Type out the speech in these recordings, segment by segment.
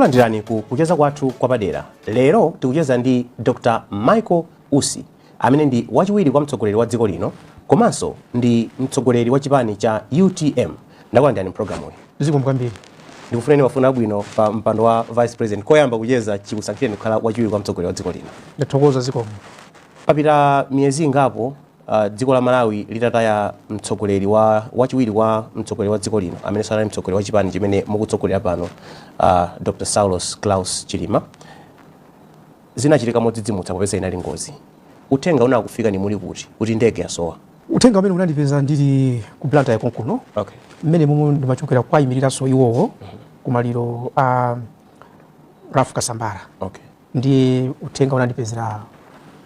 Takulandirani ku kucheza kwathu kwapadera. Lero tikucheza ndi Dr. Michael Usi amene ndi wachiwiri kwa mtsogoleri wa dziko lino komanso ndi mtsogoleri wa chipani cha utm. Ndakulandirani mu pulogalamuyi. Zikomo kwambiri. Ndikufuneni mafuno abwino pa mpando wa Vice President koyamba kucheza chikusankhireni kukhala wachiwiri kwa mtsogoleri wa dziko lino. Ndathokoza, zikomo. Papita miyezi ingapo Dziko la Malawi litataya mtsogoleri wa wachiwiri kwa mtsogoleri wa dziko lino amenenso anali mtsogoleri wa chipani chimene mukutsogolera pano uh, Dr. Saulos Klaus Chilima zinachitika modzidzimutsa popeza inali ngozi. Uthenga unakufikani muli kuti kuti ndege yasowa? Uthenga umene unandipeza ndili ku Blantyre konkuno okay. mmene momwe ndimachokera kuwaimiriranso iwowo mm -hmm. kumaliro a uh, Ralph Kasambara okay. ndiye uthenga unandipezera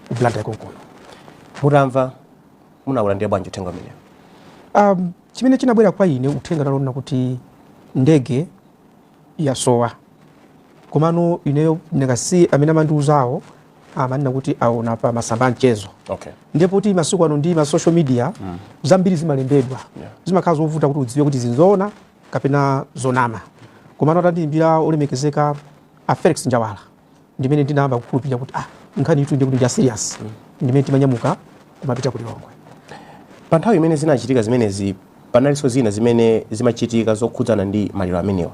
ku blantyre konkuno mutamva munaulandira bwanji uthenga umenewo um, chimene chinabwera kwa ine uthenga unali onena kuti ndege yasowa komano ineyo chifukwa choti amene amandiuzawo amanena kuti aona pa masamba a mchezo okay. ndi poti masiku ano ndi ma social media mm. zambiri zimalembedwa yeah. zimakhala zovuta kuti udziwe kuti izi nzoona kapena zonama komano atandiimbira olemekezeka a Felix Njawala ndi mmene ndinayamba kukhulupirira kuti ah nkhaniyitu ndikuti ndiya serious mm. ndi mmene timanyamuka kumapita ku Lilongwe pa nthawi imene zinachitika zimenezi panalinso zina zimene zimachitika zokhudzana ndi maliro amenewa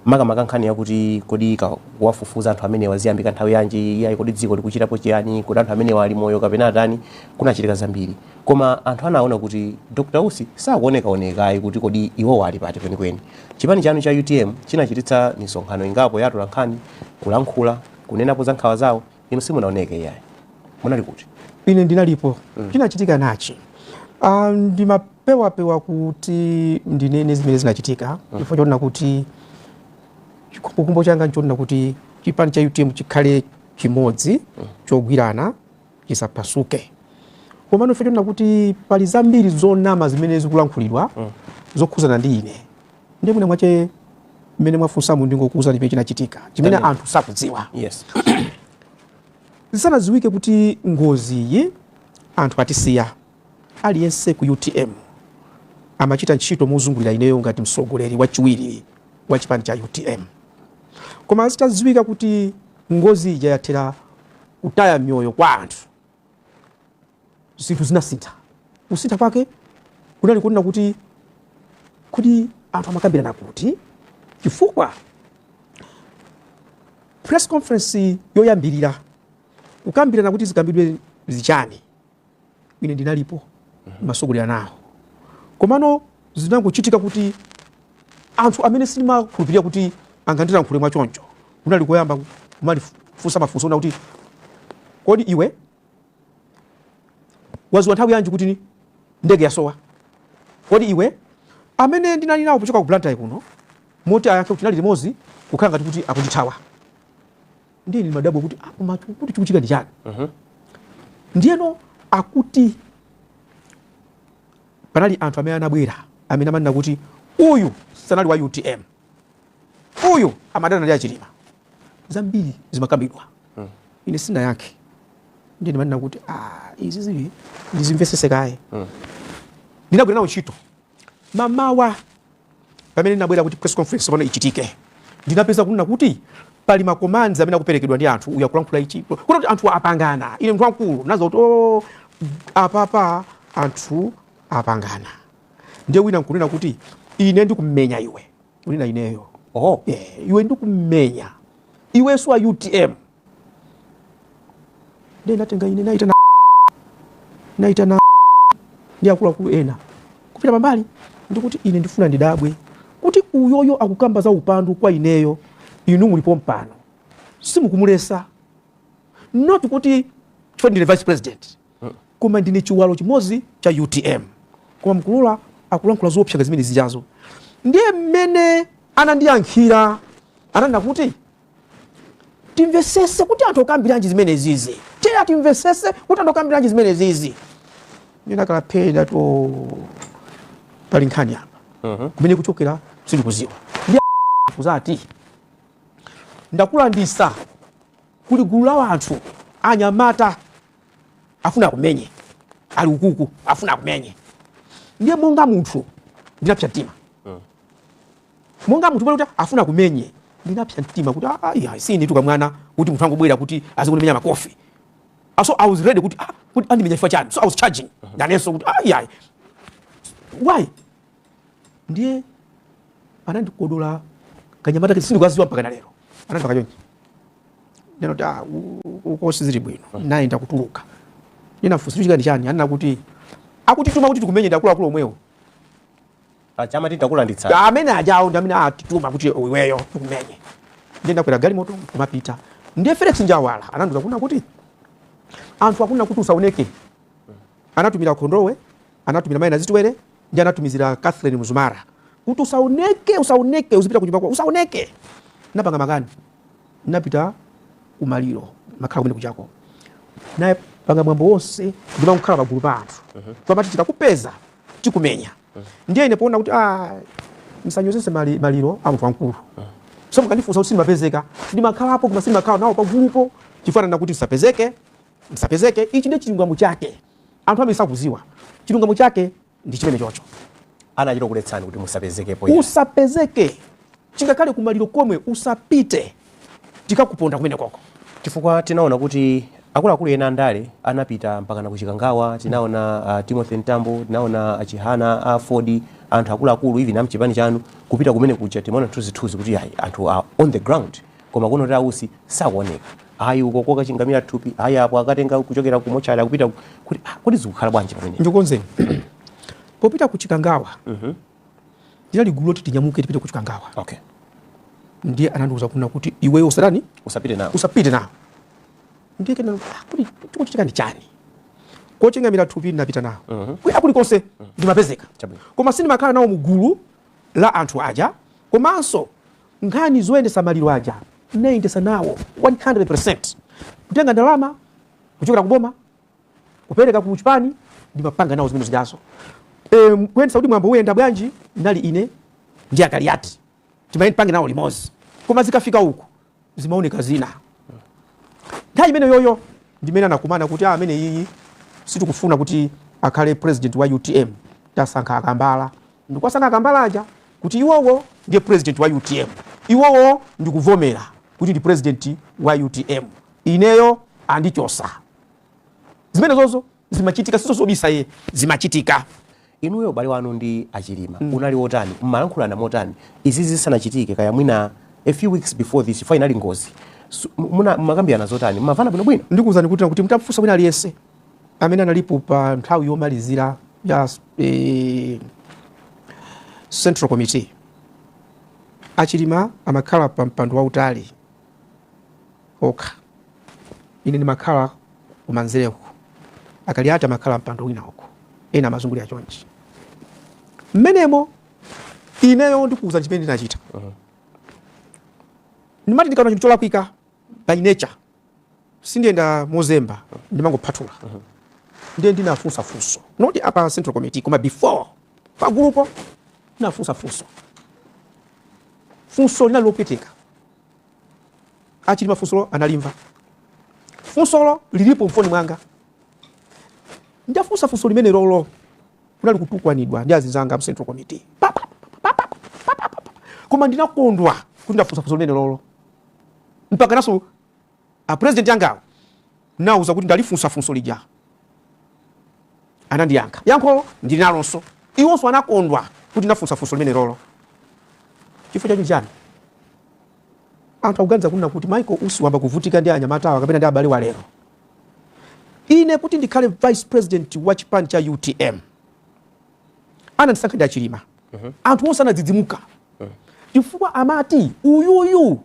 makamaka nkhani yakuti kodi kuwafufuza anthu amenewa ziyambika nthawi yanji iyayi kodi dziko likuchitapo chiyani kodi anthu amenewa ali moyo kapena atani kunachitika zambiri Koma anthu anaona kuti Dr Usi sakuoneka oneka ayi kuti kodi iwowo ali pati kwenikweni. Chipani chanu cha utm chinachititsa misonkhano ingapo ya atolankhani, kulankhula, kunenapo za nkhawa zawo, inu simunaoneke iyayi. Munali kuti? Ine ndinalipo. Chinachitika nachi, aah ndimapewapewa kuti ndinene zimene zinachitika chifukwa chonena kuti chikhumbokhumbo changa nchonena kuti chipani cha utm chikhale chimodzi, chogwirana, chisaphasuke komano chifukwa chonena kuti pali zambiri zonama zimene zikulankhulidwa mm. zokhuzana ndi ine ndiye mwina mwache mmene mwafunsamu ndingokuuzani chimene chinachitika chimene anthu sakudziwa yes. zisanadziwike kuti ngoziyi anthu atisiya aliyense ku utm amachita ntchito mozungulira ineyo ngati mtsogoleri wachiwiri wa chipani cha utm koma zitadziwika kuti Ngozi ija yathera kutaya miyoyo kwa anthu, zinthu zinasintha. Kusintha kwake kunali kunena kuti kodi anthu amakambirana kuti, chifukwa press conference yoyambirira kukambirana kuti zikambidwe zichani. ine ndinalipo masogolera nawo komano zinangochitika kuti anthu amene sindimakhulupirira kuti angandilankhule mwa choncho kunali koyamba kumalifunsa mafunso oona kuti kodi iwe waziwa nthawi yanji kuti ndege yasowa kodi iwe amene ndinali nawo pochoka ku blantyre kuno moti ayankhe kuti tinali limodzi kukhala ngati kuti akundithawa ndiye ndimadabwa kuti ah, koma kuti chikuchitika ndi chani uh mhm. -huh. ndiyeno akuti panali anthu amene anabwera amene amanena kuti uyu sanali wa utm uyu amadana ndi achilima zambiri zimakambidwa uh hmm. -huh. ine sindinayankhe ndiye ndimanena kuti ah, izi zili ndizimvesese kaye uh hmm. -huh. ndinabwera nawo ntchito mamawa pamene ndinabwera kuti press conference pano ichitike ndinapeza kunena kuti pali makomanzi amene akuperekedwa ndi anthu uyo akulankhula ichi kuti anthu apangana ine mnthu wamkulu ndazakuti oh, apapa anthu apangana ndiye wina nkunena kuti ine ndikumenya iwe unena ineyo oh. yeah, iwe ndikumenya iwe si wa utm Ndinatenga ine naita na naita na ndi akuluakulu ena kupita pambali ndikuti ine ndifuna ndidabwe kuti uyoyo akukamba za upandu kwa ineyo inu muli pompano simukumulesa not kuti chifukwa ndine vice president koma ndine chiwalo chimodzi cha utm koma mkulula akulankhula zoopsa zimenezijazo ndiye mmene anandiyankhira ananena kuti timvesese kuti anthu akukambiranji zimenezizi tiye timvesese kuti anthu akukambiranji zimenezizi ndinakapeza kuti pali nkhani apa mhm. kumene kuchokera sindikuziwa kuzati ndakulandisa kuli gulu la wanthu anyamata afuna akumenye ali ukuku afuna akumenye ndiye monga munthu ndinapsa mtima mm. monga munthu pale kuti afuna akumenye ndinapsa mtima kuti ayi ah, sinetu kamwana kuti munthu angobwera kuti azikundimenya makofi ah, so i was ready kuti ah, kuti andimenya chifukwa chani so i was charging mhm. nanenso kuti ayi ayi why ndiye anandikodola kanyamata sindikukaziwa mpaka na lero anandipanga chonchi neno kuti ah, uko sizili bwino mhm. naye ndakutuluka ndinafunsa chikakhala chani anena kuti atituma kuti tikumenye ndi akuluakulu omwewo Paja amati ndakulanditsani. Amene ajawo ndi amene atituma kuti iweyo tikumenye. Ndiye ndinakwera galimoto kumapita. Ndiye Felix Njawala anandiuza kuna kuti anthu akuna kuti usaoneke. Anatumira Kondowe, anatumira Maina Zitwere, ndiye anatumizira Catherine Mzumara kuti usaoneke, usaoneke, uzipita kunyumba kwa usaoneke. Napanga makani, napita kumaliro nkukhala kumene kujako akupanga mwambo wonse ndimakhala pagulu pa anthu mhm. pamati tikakupeza tikumenya ndiye ine poona kuti ah, msanyozese mali, maliro a munthu wamkulu so mukandifunsa kuti sindimapezeka ndimakhalapo koma sindimakhala nawo pagulupo chifukwa anati msapezeke msapezeke ichi ndiye chilungamo chake anthu amene sakuziwa chilungamo chake ndi chimene chocho anachita kukuletsani kuti musapezekepo usapezeke chingakhale kumaliro komwe usapite tikakuponda kumenekoko. Chifukwa tinaona kuti akuluakulu ena andale anapita mpakana ku Chikangawa, tinaona uh, Timothy Mtambo, tinaona achihana a AFORD, anthu akuluakulu even amchipani chanu kupita kumene kuja, tinaona zithunzi kuti ayi anthu are on the ground, koma kuno kuti a Usi sakuoneka ayi uko kokachingamira thupi ayi apo akatenga kuchokera ku mochari akupita kuti ah, kuti zikukhala bwanji pamenepo ndikukonzeni popita ku Chikangawa mm -hmm. ndinali gulu loti tinyamuke tipite ku chikangawa okay. ndiye anandiuza kuna kuti iweyo usatani usapite nawo usapite nawo ndiye kena ah, kuti chikuchitika ndi chani kochingamira thupi ndinapita nawo uh mhm. -huh. kulikonse mhm. ndimapezeka uh -huh. koma sindimakhala nawo mugulu la anthu aja komanso nkhani zoyendesa maliro aja ndinayendesa nawo 100% kutenga ndalama kuchokera kuboma kupereka ku chipani ndimapanga nawo zimene zijazo um, kuyendesa kuti mwambo uyenda bwanji ndinali ine ndi a Kaliati timapanga nawo limodzi koma zikafika uku zimaoneka zina nthawi imene yoyo ndimene anakumana kuti ah, ameneyi sitikufuna kuti akhale president wa utm tasankha akambala ndikuwasankha akambala aja kuti iwowo ndiye president wa utm iwowo ndikuvomera kuti ndi president wa utm ineyo andichosa zimene zozo zimachitika sizobisa ayi zimachitika inuyo ubale wanu ndi achilima mm. unali wotani mmalankhulana motani izi zisanachitike kaya mwina a few weeks before this finally ngozi mumakambirana zotani mmavana bwinobwino ndikuwuzani kuti kuti mtafusa wina aliyense amene analipo pa nthawi yomalizira ya eh, central committee achilima amakhala pa mpando wautali okha. Ine ndimakhala kumanzere uko, Akaliati amakhala mpando wina uko, ena amazungulira chonchi. Mmenemo ineyo ndikuuza chimene ndinachita. Ndimati ndikaona chinthu cholakwika by nature sindiyenda mozemba, ndimangophathula. Ndiye ndinafunsa funso, not apa Central Committee, koma before pagulupo ndinafunsa funso. Funso linali lopweteka A Chilima funsolo analimva. Funsolo lilipo mfoni mwanga. Ndafunsa funso limene lolo kunali kutukwanidwa ndi azinzanga mu Central Committee. Koma ndinakondwa kuti ndafunsa funso limene lolo. Mpaka naso A president angawo ndinawauza kuti ndalifunsa funso lija anandiyankha yankho ndili nalonso iwonso anakondwa kuti nafunsa funso limene lolo chifukwa chani anthu akuganiza kunena kuti Michael Usi wamba kuvutika ndi anyamata awa kapena ndi abale wa lero ine kuti ndikhale vice president wa chipani cha UTM anandisankha ndi achilima mm -hmm. anthu onse anadzidzimuka mm -hmm. chifukwa amati uyuyu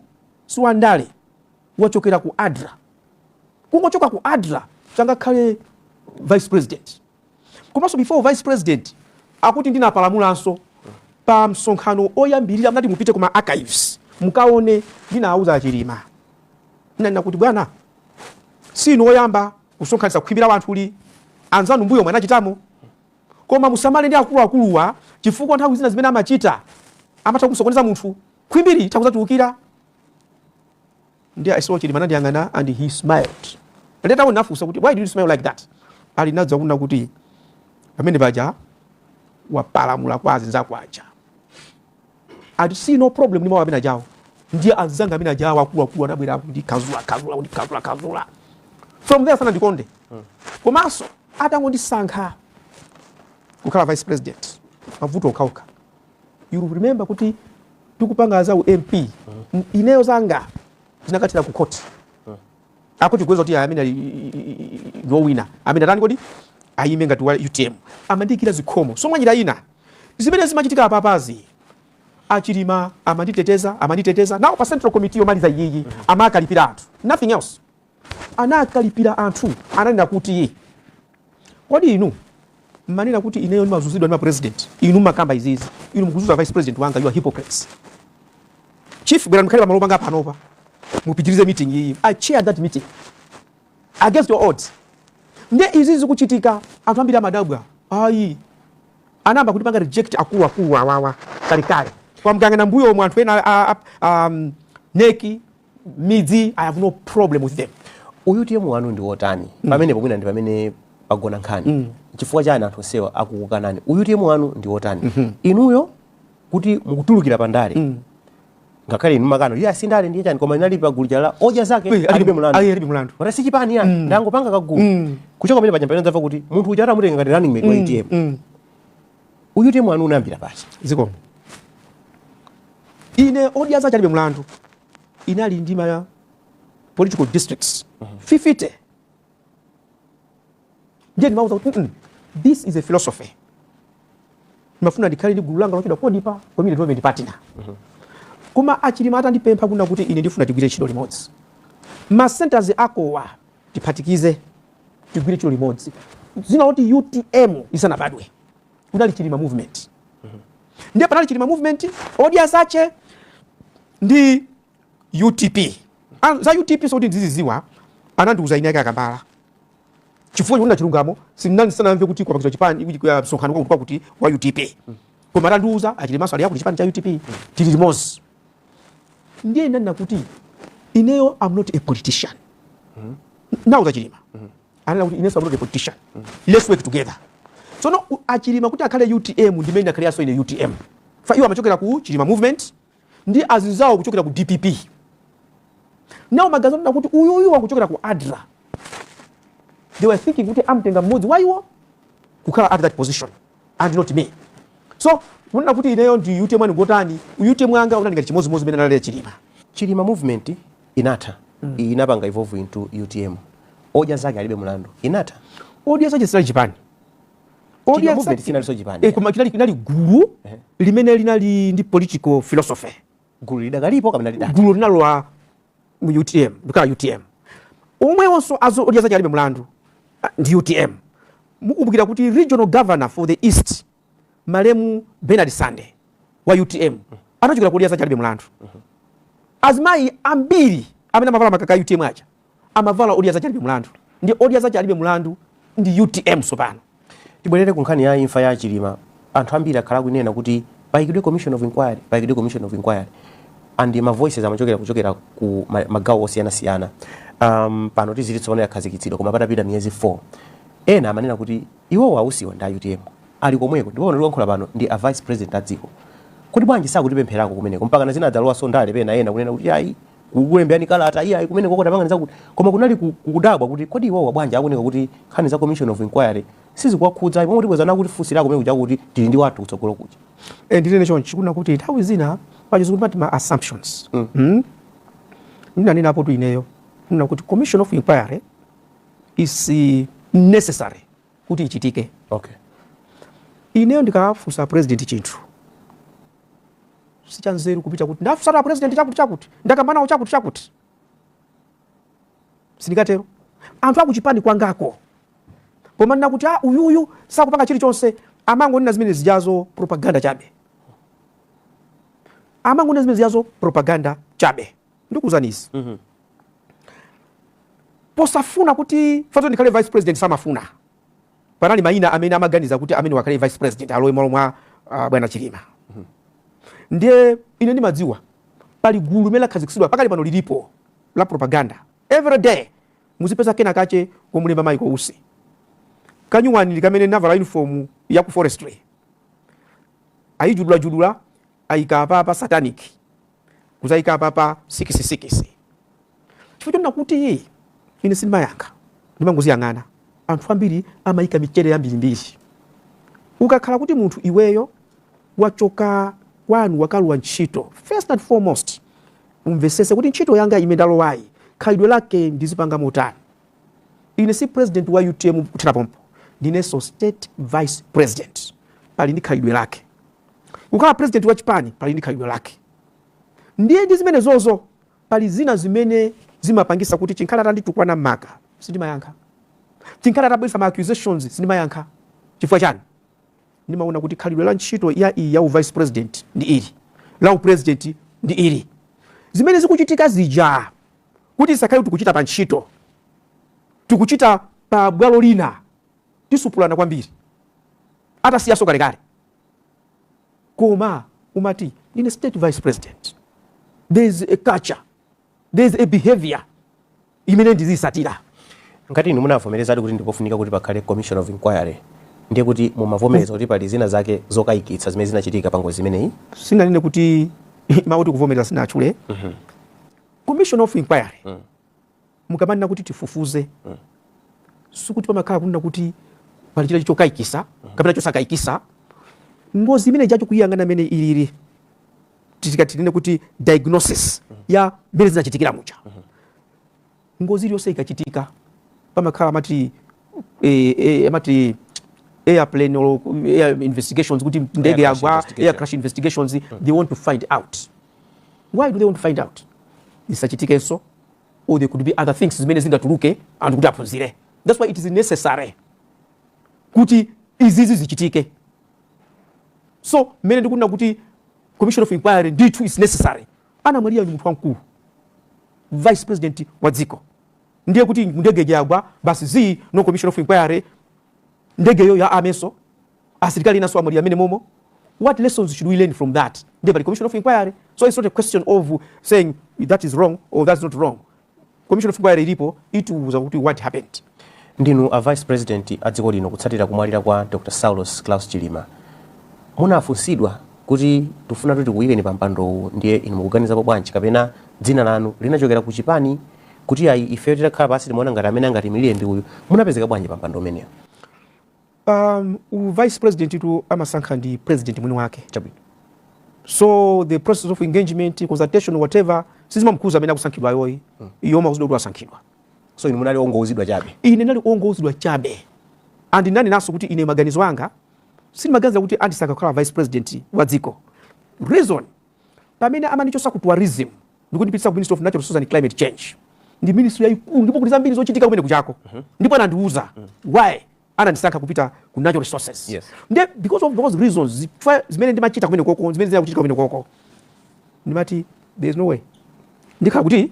siwandale wachokera ku adra kungochoka ku adra changakhale vice president komanso before vice president akuti ndinapalamulanso pa msonkhano oyambirira mnati mupite kuma archives mukaone ndinawuza achilima ndinanena kuti bwana sinu oyamba kusonkhanitsa khwimbi la wanthu ili anzanu mbuyomu anachitamo koma musamale ndi akuluakuluwa chifukwa nthawi zina zimene amachita amatha kusokoneza munthu khwimbili litha kudzatembenukira ndiye I saw chilima anandiyang'ana and he smiled later on nafunsa kuti why did you smile like that ali nadza kunena kuti pamene paja wapalamula kwa azinzako aja I see no problem ni mawa amene ajawo ndiye anzanga amene ajawo akuluakulu anabwera akundikazula kazula kundikazula kazula from there sanandikonde hmm. komanso atangondisankha kukhala vice president mavuto okhaokha you remember kuti tikupanga za u mp mm. ineyo zanga zinakathera ku court mm. akuti kuweza kuti amene no winner amene atani kodi ayime ngati wa utm amandiikira zikhomo so mwanjira ina zimene zimachitika apapazi achilima amanditeteza amanditeteza now pa central committee yomaliza iyiyi mm-hmm. amakalipira anthu nothing else anakalipira anthu, ananena kuti kodi inu mmanena kuti ineyo ndimazunzidwa ndi mapresident inu makamba izizi inu mukuzunza vice president wanga you are hypocrites chief bwera mkhale pamalo panga panopa mupitirize meeting iyi i chaired that meeting against your odds nde izi zikuchitika anthu ambiri amadabwa ayi anayamba kutipanga reject akulu akulu awawa kalekale kwa mganga nambuyomo anthu ena um, neki midzi i have no problem with them UTM wanu ndi wotani mm. pamenepo mwina ndi pamene pagona nkhani mm. chifukwa chani anthu onsewa akukukanani UTM wanu ndi wotani mm -hmm. inuyo kuti mukutulukira pandale mm. ngakhale inu mumakana iyayi si ndale ndiye chani koma inali pagulu lija la odya zake alibe mulandu alibe mulandu mara si chipani ya mm. ndangopanga kagulu mm. kuchoka pamene pajampa tinadzamva kuti munthu uja atamutenga ngati running mate mm. wa UTM mm. UTM wanu unayambira pati zikomo ine odya zache alibe mlandu inali ndi ma political districts uh -huh. fifite ndiye ndimauza kuti mm -mm, this is a philosophy ndimafuna ndikhale ndi gulu langa lochedwa kodipa community development partner uh -huh. koma a Chilima atandipempha kunena kuti ine ndifuna tigwire ntchito limodzi ma centers akowa Tiphatikize, tigwire ntchito limodzi. Dzina loti utm lisanabadwe kunali Chilima Movement. Ndiye panali Chilima Movement, Odya Zache ndi UTP. Ah, za UTP sikuti ndiziziwa, anandiuza eni ake a Kambala. Chifukwa choti kunena chilungamo, ndinali ndisanamve kuti kwapangidwa chipani, kuti kwa msonkhano kwakuti wa UTP. Koma atandiuza, a Chilimanso ali yakuti chipani cha UTP, tili limodzi. ndiye ndinanena kuti ineyo am not a politician mm -hmm. nawonso a chilima mm -hmm. ananena kuti inenso am not a politician mm -hmm. let's work together tsono a chilima kuti akhale utm ndi mmene ndakhaliranso ine utm chifukwa iwo amachokera ku chilima movement ndi azinzawo kuchokera ku dpp now ma guys anena kuti uyu uyu wakuchokera ku adra they were thinking kuti amtenga mmodzi wa iwo kukhala at that position and not me so kunena kuti ineyo ndi utm wanu ngotani utm wanga unali ngati chimodzimodzi mmene analili chilima chilima movement inatha mm. inapanga evolve into utm odya zake alibe mlandu inatha odya zake sinali chipani odya movement sinalinso chipani eh, koma linali linali gulu eh. limene linali ndi political philosophy gulu lidakalipo kapena lidatha gulu linalowa mu utm nkukhala utm omwewonso odya zache alibe mlandu ndi utm mukumbukira kuti regional governor for the east malemu bernard sande wa utm anachokera ku odya zache alibe mlandu azimayi ambiri amene amavala makaka a utm aja amavala odya zace alibe mulandu ndi odya zace alibe mulandu ndi utm tsopano. Tibwerere ku nkhani ya imfa ya Chilima. Anthu ambiri akhala akunena kuti paikidwe commission of inquiry, paikidwe commission of inquiry and ma voices amachokera kuchokera ku magawo osiyanasiyana. Um, pano tiziti tsopano yakhazikitsidwa koma patapita miyezi 4 ena amanena kuti iwowo a Usiwa ndi a UTM ali komweko ndipo pano tikuyankhula pano ndi a vice president a dziko kuti bwanji sakutipempherako kumeneko mpakana zinadzalowanso ndale pena ena kunena kuti ayi kukulembeani kalata ayi kumeneko kotapanga zakuti koma kunali ku- kudabwa kuti kodi iwowa bwanji akuoneka kuti nkhani za commission of inquiry sizikuwakhudza pomwe kuti bwezana kuti funso lako kumene kuja kuti tili ndi wathu kutsogolo kuja Eh, ndinene chonchi kunena kuti nthawi zina pachizungu amati ma assumptions mm. ndinanena apotu ineyo ndinati kuti commission of inquiry is eh, necessary kuti ichitike okay ineyo ndikafunsa president chinthu sichanzeru kupita kuti ndafunsana na president chakuti chakuti ndakamba nawo chakuti chakuti sindikatero anthu akuchipani kwangako komanena kuti ah, uyuyu sakupanga chilichonse amangonena zimene zijazo propaganda chabe amangonena zimene zijazo propaganda chabe ndikuuzani izi mm -hmm. osafuna kuti fatu ndikhale vice president samafuna panali mayina amene amaganiza kuti amene wakhale vice president alowe m'malo mwa uh, bwana Chilima mhm. ndiye ine ndimadziwa pali gulu limene lakhazikitsidwa pakali pano lilipo la propaganda every day muzipeza kena kache komulemba Michael Usi kanyuwani ili kamene ndavala uniform ya ku forestry ayijudulajudula ayika apa apa satanic kudzaika apapa sikisi sikisi chifukwa chonena kuti ine sindimayankha ndimangoziyang'ana anthu ambiri amayika mijedo yambirimbiri ukakhala kuti munthu iweyo wachoka kwanu wakalowa ntchito first and foremost umvesese kuti ntchito yanga imene ndalowayi khalidwe lake ndizipanga motani ine si president wa utm kuthera pompo ndinenso state vice president pali ndi khalidwe lake Kukhala president wa chipani pali ndi khalidwe lake ndiye ndi zimenezozo pali zina zimene zimapangisa kuti chinkhale atanditukwana maka sindimayankha chinkhale atabweresa ma accusations sindimayankha chifukwa chani ndimaona kuti khalidwe la ntchito yayi ya u vice president ndi ili la u president ndi ili zimene zikuchitika zija kuti tisakhale tikuchita pa ntchito tikuchita pa bwalo lina tisupulana kwambiri atasiyaso kalekale koma umati ndine state vice president there is a culture there is a behavior imene ndizisatira ngati inu munavomerezadi kuti ndipofunika kuti pakhale commission of inquiry ndiye kuti mumavomereza kuti pali zina zake zokayikitsa zimene zinachitika pa ngozi imeneyi sinanene kuti makuti kuvomereza sinatchule mm -hmm. commission of inquiry mm. mukamanena kuti tifufuze sikuti pamakhala kunena kuti pali china chokaikisa kapena chosakaikisa ngozi imene ija kuyiyang'ana mmene ilili tikatinene kuti diagnosis ya mmene zinachitikira muja ngozi iliyonse ikachitika pamakhala amati eh, eh, amati airplane or air investigations kuti ndege yagwa air crash investigations they want to find out why do they want to find out zisachitikenso or there could be other things zimene zingatuluke anthu kuti aphunzire that's why it is necessary kuti izizi zichitike so mmene ndikunena kuti commission of inquiry ndithu is necessary anamwalira ni munthu wamkulu vice president wa dziko ndiye kuti ndege yagwa basi zii no commission of inquiry ndegeyo ya amwene aso asilikali enanso anamwalira mmene momo what lessons should we learn from that ndiye pali commission of inquiry so it's not a question of saying that is wrong or that's not wrong commission of inquiry ilipo itiuza kuti what happened ndinu a vice president a dziko lino kutsatira kumwalira kwa dr saulos claus chilima munafunsidwa kuti tufuna kuti tikuyikeni pa mpandowu ndiye inu mukuganizapo bwanji kapena dzina lanu linachokera ku chipani kuti ayi ifeyo titakhala pansi timaona ngati amene angatiimilire ndi uyu munapezeka bwanji pa mpando umenewu U vice president tu amasankha ndi president mwini wake chabwino. So the process of engagement, consultation, whatever sizimamukhudza amene akusankhidwayoyi hmm. iyo amauzidwa kuti wasankhidwa. So inu munali ongouzidwa chabe? Ine ndinali ongouzidwa chabe and ndinenenso kuti ine maganizo anga sindimaganiza kuti andisankha kukhala vice president wa dziko reason pamene amandichosa ku tourism ndikundipitisa ku ministry of natural resources and climate change ndi ministry yaikulu ndipo kuti zambiri zochitika kumene kuchako uh mhm. -huh. ndipo anandiuza uh mhm. -huh. why anandisankha kupita ku natural resources yes. nde because of those reasons zifukwa zimene ndimachita kumene koko zimene zina kuchitika kumene koko ndimati there is no way ndikhala kuti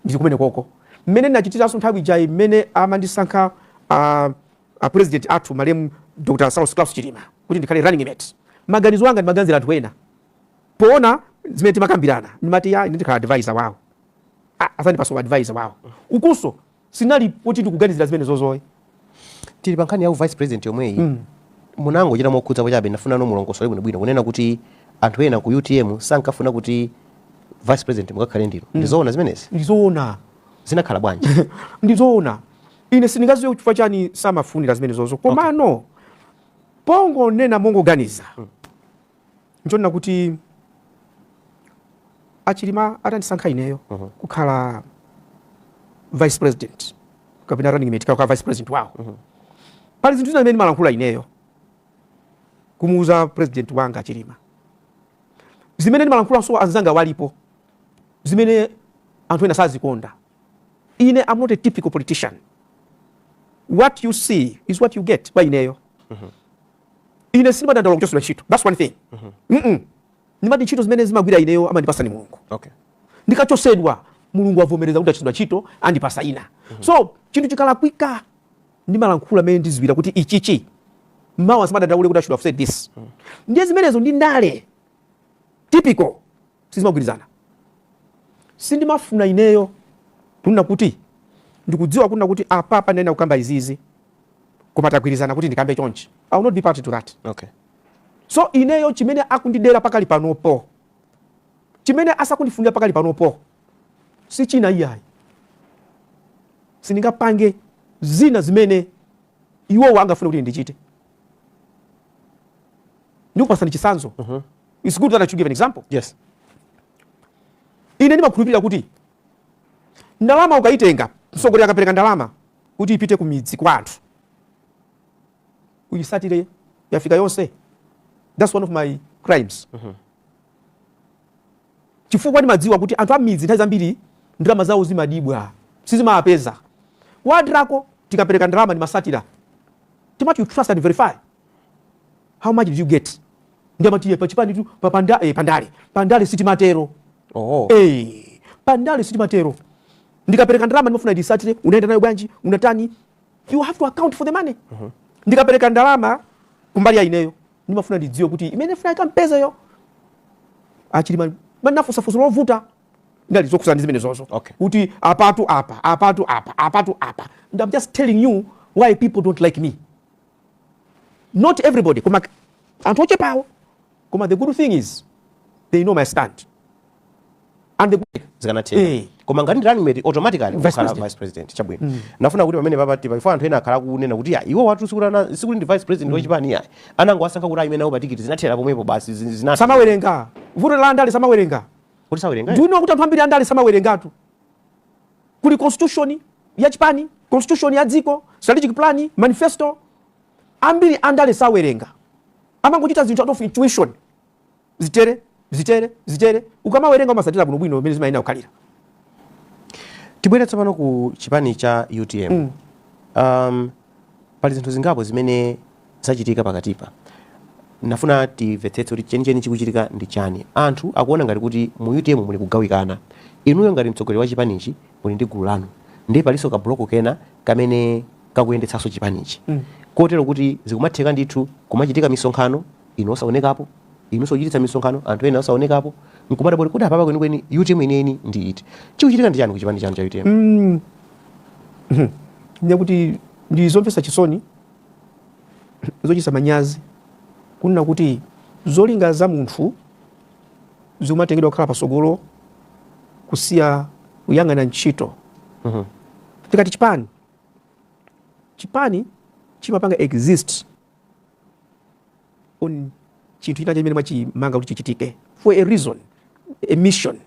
ndili kumene koko mmene ndinachitiranso nthawi ija imene amandisankha uh, a president athu malemu dr saulos klaus chilima kuti ndikhale running mate maganizo anga ndimaganizira anthu ena poona zimene timakambirana ndimati ya ndikhala advisor wawo azandipasa advisor wawo ukunso sinali kuti ndikuganizira zimenezozoyi tili pa nkhani ya u vice president yomweyi mm. munangochita mokhudza chabe ndafuna mulongosole bwinobwino kunena kuti anthu ena ku utm sankafuna kuti vice president mukakhale ndinu mm. ndizoona zimenezi ndizoona zinakhala bwanji ndizoona ine sindingaziwe kuti chifukwa chani samafunira zimenezozo komano okay. pongonena mongoganiza mm. Nchonena kuti a Chilima atandisankha ineyo uh mhm. -huh. kukhala vice president kapena running mate kukhala vice president wawo uh mhm. -huh. pali zinthu zina zimene ndimalankhula ineyo kumuuza president wanga a Chilima zimene ndimalankhulaso anzanga alipo zimene anthu ena sazikonda ine am not a typical politician what you see is what you get kwa ineyo mm -hmm. ine sindimadandaula kuchosedwa ntchito thats one thing mm -mm. ndimati ntchito zimene ndimagwira ineyo amandipasa ni mulungu okay. ndikachosedwa mulungu avomereza kuti achosedwe ntchito andipasa ina mm -hmm. so chinthu chikalakwika ndimalankhula mene ndiziwira kuti ichichi mawa ndisamadandaule kuti i should have said this mm. ndiye zimenezo ndi ndale typical sizimagwirizana. Sindimafuna ineyo kunena kuti ndikudziwa kunena kuti apapa ndinenera kukamba izizi koma tagwirizana kuti ndikambe chonchi. I will not be party to that. Okay. So ineyo chimene akundidera pakali panopo chimene asakundifunira pakali panopo si china iyayi sindingapange zina zimene iwowo angafune kuti ndichite ndikupatsani chitsanzo mm -hmm. its good that i should give an example yes ine ndimakhulupirira kuti ndalama ukayitenga msogoleri akapereka ndalama kuti ipite ku midzi kwa anthu uyisatire yafika yonse that's one of my crimes mm -hmm. chifukwa ndimadziwa kuti anthu a m'midzi nthawi zambiri ndalama zawo zimabedwa sizimawapeza World Relief tikapereka ndalama ndimasatira timati you trust and verify how much did you get ndiye amati iye pachipanitu pa panda, eh, pandale pandale sitimatero oh. eh, pandale sitimatero ndikapereka ndalama ndimafuna ndisatire unaenda nayo bwanji unatani you have to account for the money mm -hmm. ndikapereka ndalama kumbali ya ineyo ndimafuna ndidziwe kuti imene ndikufuna ikampeza yo achilima amafunsafunsa ndi ovuta ndiye zokusiyana ndi zimenezozo okay. kuti apatu apa apatu apa apatu apa and i'm just telling you why people don't like me not everybody koma anthu ochepawo koma the good thing is they know my stand and the good zikanatheka eh. koma ngati ndi running mate automatically ukhala vice president chabwino mm. ndimafuna kuti pamenepa pakati pa anthu ena akhala akunena kuti ya iwowatu sikutana sikuti ndi vice president mm. wachipani iyayi anangowasankha kuti ayime nawo pa tikiti zinathera pomwepo basi zinatha samawerenga vuto la ndale samawerenga kuti sawerenga do you know kuti anthu ambiri andale samawerengatu kuli constitution ya chipani constitution ya dziko strategic plan manifesto ambiri andale sawerenga amangochita zinthu out of intuition zitere zitere zitere ukamawerenga umasatira bwino bwino mmene zimayenera kukhalira tibwere tsopano ku chipani cha utm mm. um, Pali zinthu zingapo zimene zachitika pakatipa. Ndinafuna timvetsetse kuti chenicheni chikuchitika ndi chani. Anthu akuona ngati kuti mu utm muli kugawikana. Inuyo ngati mtsogoleri wa chipanichi muli ndi gulu lanu ndiye palinso ka block kena kamene kakuyendetsanso chipanichi kotero kuti zikumatheka ndithu kumachitika misonkhano inu osaonekapo, inunso kuchititsa misonkhano anthu ena osaonekapo nkumadabwa kuti kodi apapa kwenikweni utm yeniyeni ndi iti? Chikuchitika ndi chani ku chipani chanu cha utm? ndiye kuti ndi zomvetsa chisoni zochititsa manyazi kunena kuti zolinga za munthu zikumatengedwa kukhala patsogolo kusiya kuyang'ana ntchito Mhm. tikati chipani chipani chimapanga exist on chinthu china chimene mwachipanga kuti chichitike for a reason a mission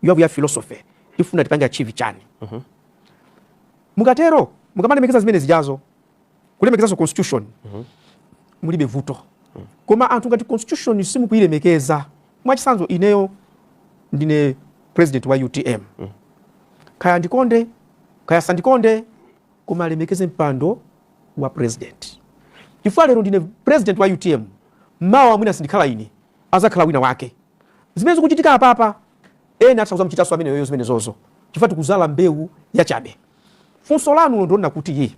you have your philosophy tifuna tipange achieve chani uh -huh. mukatero mukamalemekeza zimene zijazo kulemekezanso constitution uh -huh. mulibe vuto uh -huh. koma anthu ngati constitution simukuilemekeza mwachisanzo ineyo ndine president wa utm uh -huh. kaya ndikonde kaya sandikonde koma alemekeze mpando wa president chifukwa lero ndine president wa utm mawa mwina sindikhala ine azakhala wina wake zimene zikuchitika apapa ena atha kuzamuchitanso amene yoyo zimene zozo chifukwa tikuzala mbewu yachabe funso lanu lo ndi loona kuti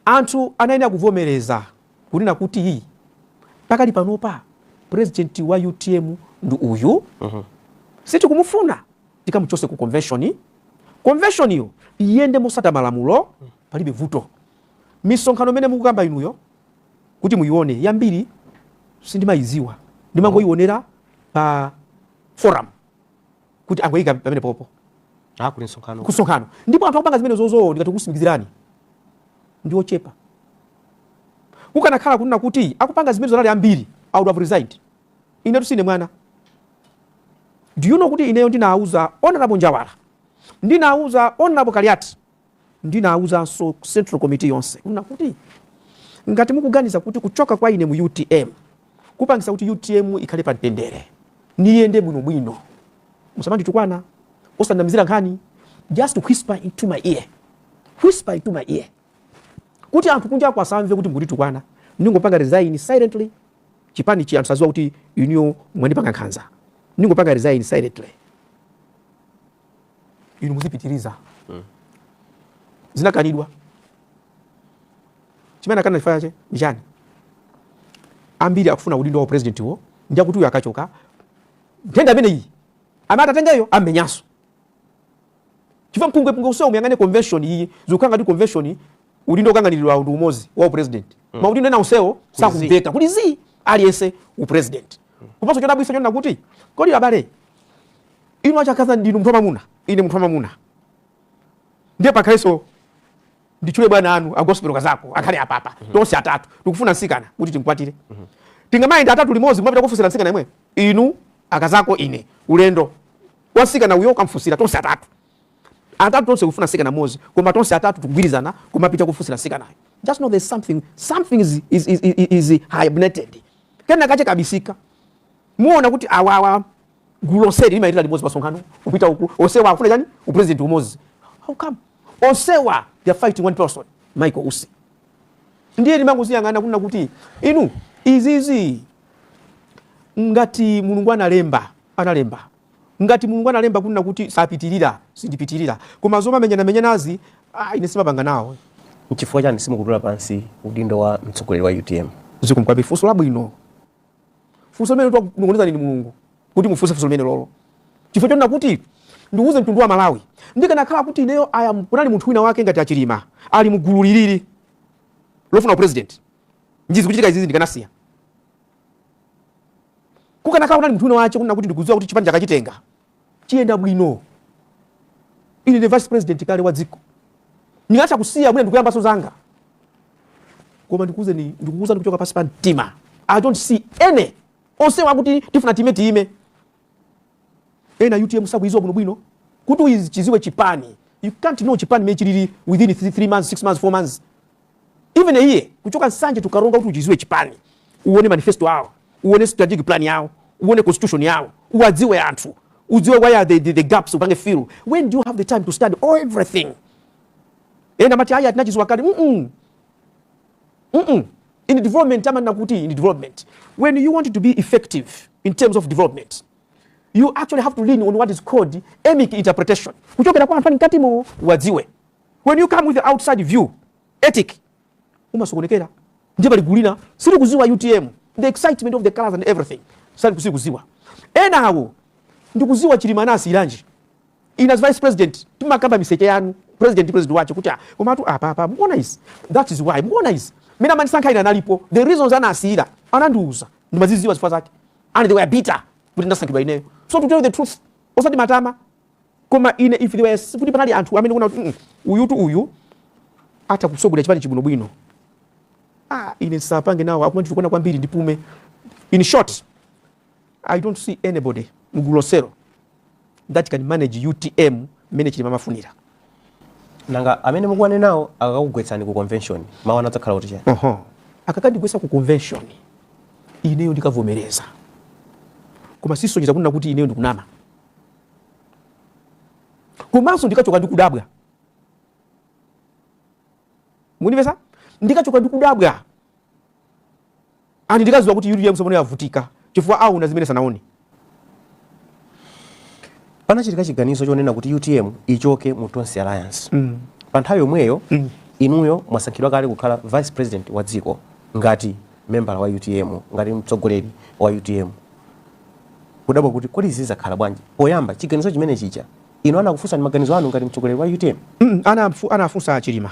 anthu anayenera kuvomereza kunena kuti pakali panopa president wa utm ndi uyu uh mhm. -huh. sitikumufuna tikamuchose ku convention convention yo iyende mosata malamulo palibe vuto misonkhano mene mukukamba inuyo kuti muyione yambiri sindimayiziwa ndimangoyionera pa forum kuti angoyika pamene popo ah, kusonkhano ndipo anthu akupanga zimene zozo ndikutsimikizireni ndiochepa kukanakhala kunena kuti akupanga zimenezo anali ambiri i would have resigned inetu sine mwana Do you know kuti ineyo ndinauza Hon. Njawala, ndinauza Hon. Kaliati, ndinauzanso Central Committee yonse kunena kuti ngati mukuganiza kuti kuchoka kwa ine mu utm kupangisa kuti utm ikhale pa mtendere ndi iyende bwinobwino, musamanditukwana, osandinamizira nkhani, just whisper into my ear, whisper into my ear kuti anthu kunja ko asamve kuti mukunditukwana, ndingopanga resign silently chipanichi anthu asaziwe kuti inuyo mwandipanga nkhanza ndingopanga resign silently inu muzipitiriza mm. zinakanidwa chimene akana chifukwa chache ndi chani ambiri akufuna udindo wa president wo ndiye kuti uyo akachoka nthenda imeneyi amene atatengeyo amenyanso chifukwa mpungwe pungwe usiwa umyang'ane convention iyi zikukanganirana ndi convention udindo ukanganilidwa ndi umodzi wa upresident mm. maudindo ena onsewo sakumveka kuti aliyense upresident mm. komanso chodabwisa chonena kuti kodi abale inu a Chakaza ndinu munthu wamamuna ine munthu wamamuna ndiye pakhalenso nditchule bwana anu agospel kazako akhale apapa mm -hmm. tonse atatu tikufuna nsikana kuti timkwatire mm -hmm. tingamayenda atatu limodzi kumapita kufusira nsikana imwe inu akazako ine ulendo kwa nsikana uyo kukamfusira tonse atatu atatu tonse kufuna nsikana mozi koma tonse atatu tukugwirizana kumapita kufusira nsikanayo just know there's something something is, is, is, is, is hibernated kena kache kakubisika muona kuti awawa gulu loseli limayitira limodzi pasonkhano kupita uku onsewa akufuna chani upresident umozi how come onsewa they are fighting one person michael usi ndiye ndimangoziyang'ana kunena kuti inu izizi ngati mulungu analemba analemba. Ngati Mulungu analemba kunena kuti sapitirira, sindipitirira. Koma zomamenyanamenyanazi, ah, ine simapanga nawo. Nchifukwa chani simukutula pansi udindo wa mtsogoleri wa UTM? Zikomo kwambiri, funso labwino. Funso limene wakunong'onezani ndi Mulungu kuti mufunse funso limenelolo, chifukwa chonena kuti ndiuze mtundu wa Malawi, ndikanakhala kuti ineyo aya kunali munthu wina wake ngati Achilima ali mugulu lili lofuna upresident, ndi zikuchitika izizi ndikanasiya kukanakhala kunali munthu wina wace kunena kuti ndikudziwa kuti chipani chakachitenga chiyenda bwino ine ndi vice president kale wa dziko ndingatha kusiya mwina n'kuyambanso zanga koma ndikuuzeni ndikukuuza kuchoka pansi pa mtima i don't see any onsewa akuti tifuna time tiime ena utm sakuiziwa bwino bwino kuti uchiziwe chipani you can't know chipani mmene chilili within 3 months 6 months 4 months even a year kuchoka nsanje tukaronga kuti uchiziwe chipani uone manifesto yao uone strategic plan yao uone constitution yao uwadziwe anthu udziwe where are the, the, the gaps upange fill when do you have the time to study all everything ena amati aya tinachiziwa kale mm -mm. mm -mm. in development amanena kuti in development when you want to be effective in terms of development you actually have to lean on what is called emic interpretation kuchokera kwa anthu ali mkatimo uwadziwe when you come with the outside view etic umasokonekera ndiye pali gulu lina silikuziwa utm the excitement of the colors and everything sakuziwa enawo ndikuziwa chilima anasiyiranji Ine as vice president timakamba miseche yanu president ndi president wache kuti ah komatu apapa mukuona izi that is why mukuona izi mene amandisankha ine analipo the reasons anasiyira anandiuza ndimaziziwa zifukwa zake and they were bitter kuti ndasankhidwa ineyo so to tell the truth osati matama koma ine if they were kuti panali anthu amene kuona kuti mm, uyutu uyu atha kutsogolera chipani chibwinobwino ah ine sindikanapanga nawo akumanditukwana kwambiri ndipume in short i don't see anybody mgulu lonselo that can manage utm mmene chilima amafunira nanga amene mukuwanenawo akakugwetsani ku convention mawu anu adzakhala kuti chani oho akakandigwetsa ku convention ineyo ndikavomereza koma sizisonyeza kunena kuti ineyo ndikunama komanso ndikachoka ndikudabwa munimvesa ndikachoka ndikudabwa And ndikudziwa kuti utm sopano yavutika chifukwa awona zimene sanaone. Panachitika chiganizo chonena kuti utm ichoke mu Tonse Alliance. Mm. Pa nthawi yomweyo mm. inuyo mwasankhidwa kale kukhala vice president wa dziko ngati membala wa utm ngati mtsogoleri wa utm kudabwa kuti kodi izi zakhala bwanji poyamba chiganizo chimene chija inu anakufunsani maganizo anu ngati mtsogoleri wa utm mm, anafunsa anali chilima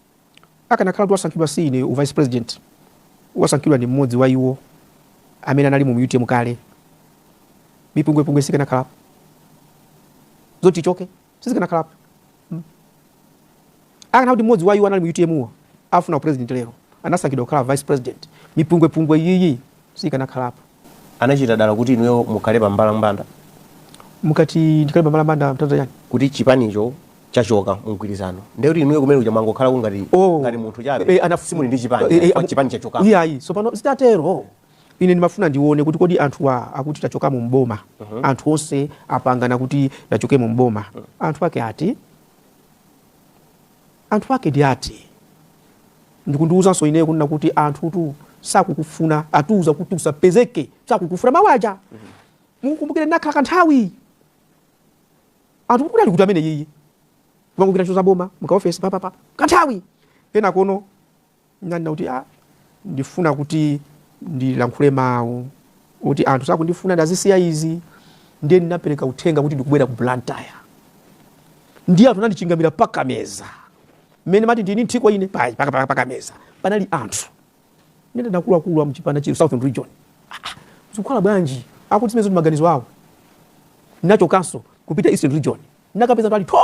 Akanakhala kuti wasankhidwa si ine u vice president, wasankhidwa ndi mmodzi wa iwo amene analimo mu utm kale, mipungwepungwe sikanakhalapo, zoti tichoke sizikanakhalapo. Hmm. Akanakhala kuti mmodzi wa iwo anali mu utm wo afuna u president lero anasankhidwa kukhala vice president, mipungwepungwe iyiyi sikanakhalapo. Anachita dala kuti inuyo mukhale pa mbalambanda. Mukati ndikhale pa mbalambanda mtanthauza chani? Kuti chipanicho chachoka mu mgwirizano ndiye kuti inuyo kumene kuja mwangokhalako ngati oh, ngati munthu chabe e, anaf... simuli ndi chipani e, e, chipani chachoka. Iyayi, tsopano zitatero ine ndimafuna ndione kuti kodi anthuwa akuti tachoka mu boma uh mhm. -huh. anthu onse apangana kuti tichoke mu boma uh mhm. -huh. anthu ake ati Anthu ake ndi ati? Ndi kundiuzanso ineyo kunena kuti anthutu sakukufuna atiuza kuti usapezeke sakukufuna mawu aja mukumbukire ndinakhala kanthawi anthu kuti ali kuti amene yiyi kumangogwira ntchito za boma mu kaofesi papapa kanthawi kenako no Ndinanena kuti a ndifuna kuti ndilankhule mawu kuti anthu sakundifuna ndazisiya izi ndiye ndinapereka uthenga kuti ndikubwera ku Blantyre ndiye anthu anandichingamira pakameza mmene mati ndinu nthiko ine pa- pa- pa- pakameza panali anthu nanena nakuluakulu a mchipani chino southern region Ah, ah, zikukhala bwanji akuti zimenezo ndi maganizo awo nachokanso kupita eastern region nakapeza anthu ali tho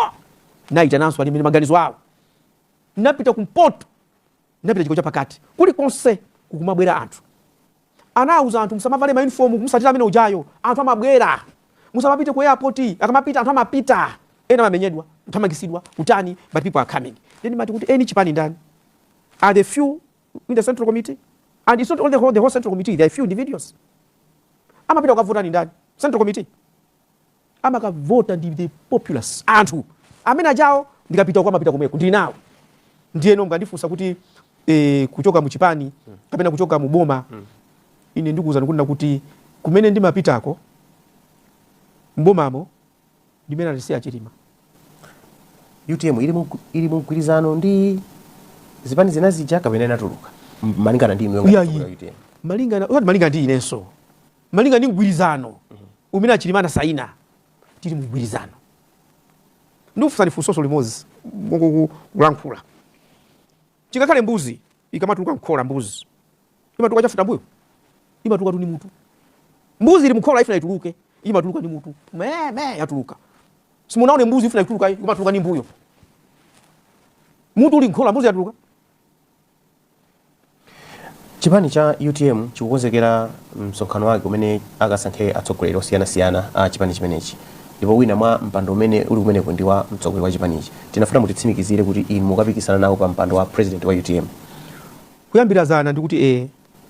naitananso alimene maganizo awo napita kumpoto napita chigawo chapakati kulikonse kukumabwera anthu anawuza anthu musamavale maunifomu kumutsatira amene ujayo anthu amabwera musamapite ku airport akamapita anthu amapita ena amamenyedwa kuthamangitsidwa kutani but people are coming then mumati kuti eni chipani ndani are the few in the central committee and it's not only the whole, the whole central committee there are few individuals amapita kukavota ndi ndani central committee amakavota ndi the populace anthu amene ajawo ndikapita uko amapita komweko ndili nawo ndiyeno mukandifunsa kuti e, kuchoka muchipani kapena kuchoka muboma ine ndikuwuzani kunena kuti kumene ndimapitako mbomamo ndi mmene analisiya chilima utm ili mu- ili mu mgwirizano ndi zipani zina zija kapena inatuluka M- malingana ndi inuyo ngati Iyayi. mkulu wa utm malingana osati malingana ndi inenso Malinga ndi mgwirizano umene a Chilima anasaina, tili mu mgwirizano. Ndikufunsani funsoso limodzi mongokulankhula. Chingakhale mbuzi ikamatuluka mkhola mbuzi imatuluka chafutambuyo? Imatulukatu ndi mutu. Mbuzi ili mkhola ifuna ituluke, imatuluka ndi mutu. Me me yatuluka. Simunaone mbuzi ifuna ituluke, imatuluka ndi mbuyo. Mutu uli mkhola mbuzi yatuluka. Chipani cha utm chikukonzekera msonkhano wake umene akasankhe atsogoleri osiyanasiyana a chipani chimenechi ndipo wina mwa mpando umene uli kumeneko ndi wa mtsogoleri wa chipanichi tinafuna mutitsimikizire kuti inu mukapikisana nawo pa mpando wa president wa utm kuyambira zana ndikuti ee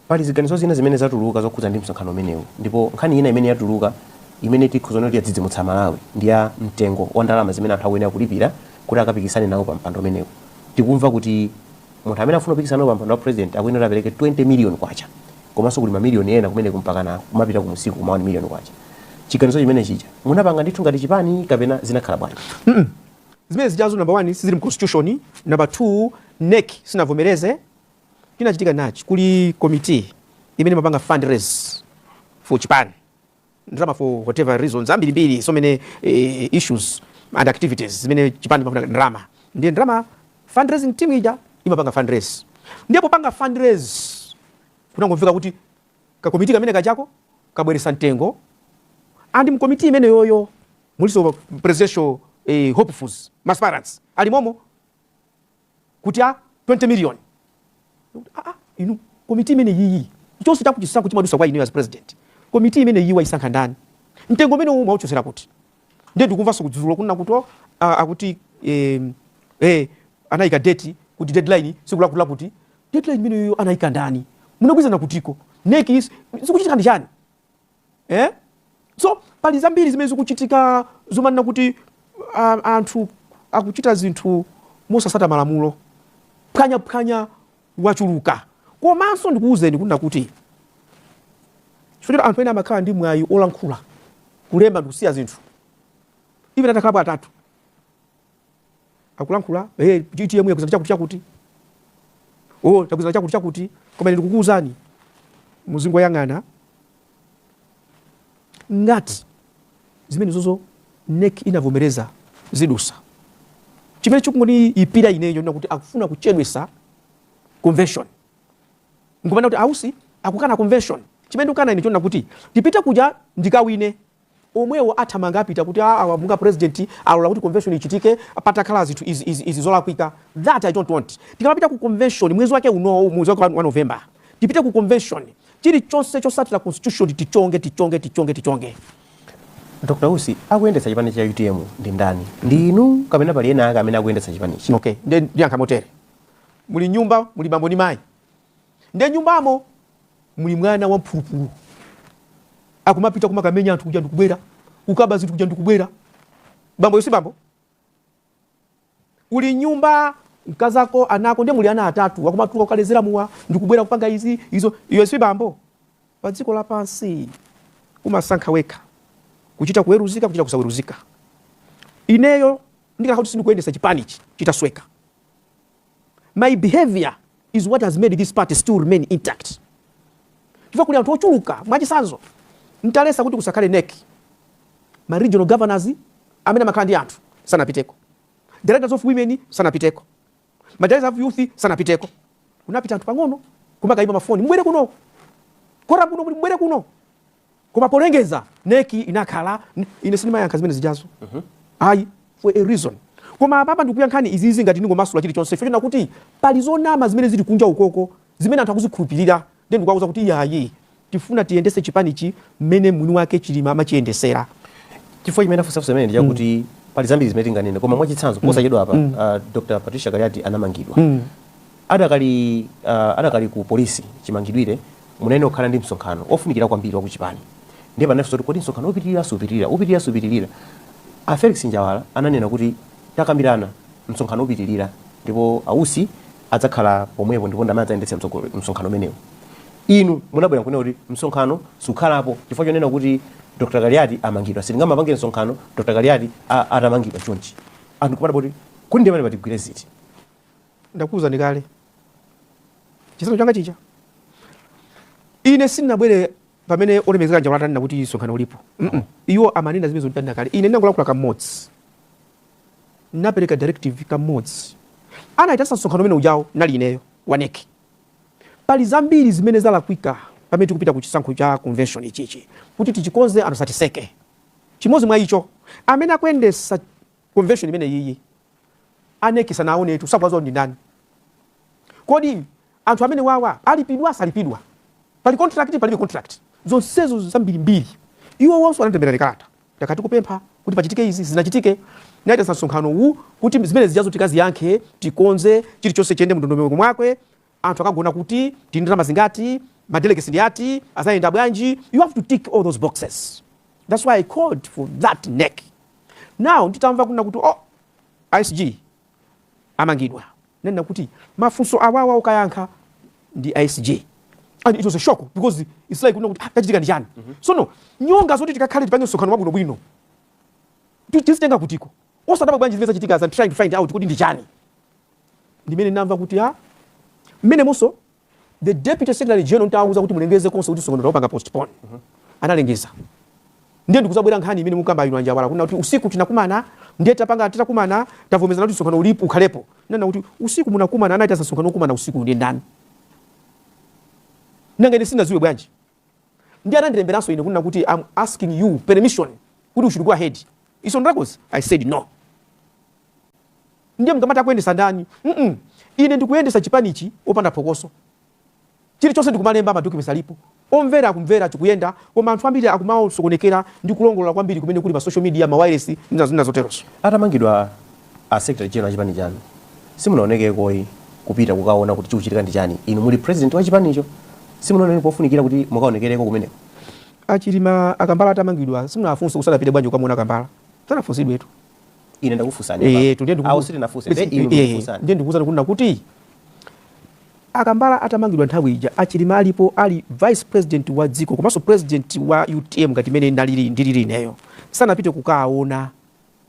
Pali ziganizo zina zimene zatuluka zokhudza ndi msonkhano umenewu ndipo nkhani ina imene yatuluka imene tikhoza kunena kuti yadzidzimutsa Amalawi ndi ya mtengo wa ndalama zimene anthu akuyenera kulipira kuti akapikisane nawo pa mpando umenewu. Tikumva kuti munthu amene akufuna kupikisana nawo pa mpando wa President akuyenera kuti apereke K20 million komanso kuli ma million ena kumeneko mpakana kumapita kumunsiko kuma K1 million. Chiganizo chimene chija munapanga ndithu ngati chipani kapena zinakhala bwanji? mm zimene zijazo number one sizili mu constitution, number two nec sinavomereze. chinachitika nachi kuli committee imene imapanga fund raise for chipani ndalama for whatever reasons ambirimbiri so many eh, issues and activities zimene chipani chimafuna ndalama ndiye ndalama fundraising team ija imapanga fundraise ndiye popanga fundraise kunangomveka kuti kakomiti kamene kachako kabweresa mtengo and mkomiti imene yoyo muliso presidential eh, hopefuls ma aspirants alimomo kuti a 20 million Ndikuti, "Ah, ah, inu komiti imene yiyi chonse chakuti chisankho chimadusa kwa ineyo as president komiti imene yiyi wayisankha ndani mtengo umene uwu mwauchotsera kuti ndiye ndikumvanso kudzudzula kunena kuti oh, ah, akuti eh, eh, anayika date kuti deadline siku lakuti lakuti deadline imeneyo anayika ndani munagwirizana kutiko NEC zikuchitika ndi chani eh? so pali zambiri zimene zikuchitika zomanena kuti uh, anthu akuchita zinthu mosatsata malamulo phwanyaphwanya wachuluka komanso ndikuwuzeni kunena kuti chifukwa anthu ena amakhala ndi mwayi olankhula kulemba ndikusiya zinthu ivi atakhalapo atatu akulankhula eh utm yagwirizana chakuti chakuti oh tagwirizana chakuti chakuti koma ndikukuuzani muzingoyang'ana ngati zimene zozo NEC inavomereza zidusa chimene chikungoniipira ineyo n'chakuti akufuna kuchedwesa convention nkumanena kuti a Usi akukana convention chimene ndikukana ine chonena kuti tipite kuja ndikawine omwewo athamanga apita kuti aa awa monga president alola kuti convention ichitike patakhala zinthu izi izi izi zolakwika that i don't want tikamapita ku convention mwezi wake unowu mwezi wake wa wa november tipite ku convention chilichonse chosatira constitution tichonge tichonge tichonge tichonge dr usi akuyendetsa chipani cha utm ndi ndani ndi inu kapena pali ena ake amene akuyendetsa chipanichi okay ndiye ndiyankha motere muli nyumba muli bambo ndi mayi nde nyumbamo muli mwana wa mphulupulu akumapita kumakamenya anthu kuja ndikubwera kukaba zinthu kuja ndikubwera bamboyo si bambo uli nyumba mkazako ana ako nde muli ana atatu akumatuka kukalezera mowa ndikubwera kupanga izi izo uyo si bambo pa dziko lapansi umasankha wekha kuchita kuweruzika kuchita kusaweruzika ineyo ndikanakhala kuti sindikuyendesa chipanichi chitasweka my behavior is what has made this party still remain intact chifukwa kuli anthu ochuluka mwachisanzo ntalesa kuti kusakhale nec ma regional governors amene amakhala ndi anthu sanapiteko directors of women sanapiteko ma directors of youth sanapiteko kunapita anthu pang'ono kumakayimba mafoni mubwere kuno quorum kuno mubwere kuno Koma polengeza nec inakhala ine sindimayankha zimene zijazo ayi for a reason koma apapa ndikuyankhani izizi ngati ndingomasula chilichonse chifukwa chonena kuti pali zonama zimene zili kunja ukoko zimene anthu akuzikhulupilira nde ndikuwauza kuti iyayi tifuna tiyendese chipanichi mmene mwini wake chilima amachiyendesera chifukwa chimene ndafunsa funso limeneli ndi chakuti pali zambiri zimene tinganene koma mwachitsanzo posachedwa apa uh, dr patricia kaliati anamangidwa Adakali uh adakali ku police chimangidwire munayenera kukhala ndi msonkhano ofunikira kwambiri wa kuchipani ndiye panali funso kuti kodi msonkhano upitilira supitilira upitilira supitilira a Felix Njawala ananena kuti takambirana msonkhano upitilira ndipo a Usi adzakhala pomwepo ndipo ndamene adzayendetsa mtsogolo msonkhano umenewu inu munabwera nkunena kuti msonkhano sukhalapo chifukwa chonena kuti Dr. Kaliati amangidwa sitingamapange msonkhano Dr. Kaliati a- atamangidwa chonchi anthu kumadabwa kuti kodi ndiye pamenepa tigwire ziti Ndakuuzani kale chisanzo changa chija, ine sinabwere pamene olemezeka Njawala atanena kuti msonkhano ulipo. mm -mm. Iwo amanena zimenezo ntanena kale, ine ndinangolankhula kamodzi, napereka directive kamodzi, anaitanitsa msonkhano umene ujawo nali ineyo wa NEC. Pali zambiri zimene zalakwika pamene tikupita ku chisankho cha convention ichichi kuti tichikonze anthu satiseke. Chimodzi mwa icho amene akuyendesa convention imeneyiyi a nec sanaonetu sakuwadziwa ndi ndani kodi anthu amene wawa alipidwa salipidwa pali contract palibe contract zonsezo zambirimbiri iwowonso anatilembera kalata takati kupempha kuti pachitike izi sizinachitike naitanitsa msonkhano uwu kuti zimene zijazo tikaziyankhe tikonze chilichonse chiyende mndondomeko mwake anthu akagona kuti, tili ndi ndalama zingati, ma delegates ndi ati, azayenda bwanji, you have to tick all those boxes that's why i called for that NEC. Now nditamva kunena kuti oh a SG amangidwa ndinanena kuti mafunso awawa okayankha ndi a SG and it was a shock because it's like kunena kuti ah, chachitika ndi chani mm -hmm. sono nyonga zoti tikakhale tipange msonkhano wabwino bwino tizitenga kuti ko osadaba bwanji zimene zachitika as I'm trying to find out kuti ndi chani ndimene ndinamva kuti a mmenemonso the deputy secretary general nditawauza kuti mulengeze konse kuti msonkhano taupanga postpone mhm. analengeza ndiye ndikuzabwera nkhani imene mukamba inu a Njawala kunena kuti usiku tinakumana ndiye tapanga titakumana tavomerezana kuti msonkhano ulipo ukhalepo ndinanena kuti usiku munakumana anaitana msonkhano okumana usiku ndi ndani nanga ine sinaziwe bwanji ndiye anandilemberanso ine kunena kuti I'm asking you permission kuti we should go ahead it's on records i said no ndiye mukamati akuyendesa ndani mm -mm. ine ndikuyendesa chipanichi opanda phokoso chilichonse ndikumalemba madocuments alipo omvera akumvera chikuyenda koma anthu ambiri akumangosokonekera ndi kulongolola kwambiri kumene kuli pa social media mawiresi ndi zina zoterozo atamangidwa a secretary general a chipani chanu simunaonekekoyi kupita kukaona kuti chikuchitika ndi chani inu muli president wa chipanicho simunaoneke pofunikira kuti mukaonekereko kumeneko a Chilima a Kambala atamangidwa simunafunse kuti sanapite bwanji kukamuona a Kambala sanafunsidwetu ine ndakufunsani eh, eh, ndiye ndikuuzani kunena kuti a Kambala atamangidwa nthawi ija a Chilima alipo ali vice president wa dziko komanso president wa utm ngati mmene ndilili ineyo sanapite kukaona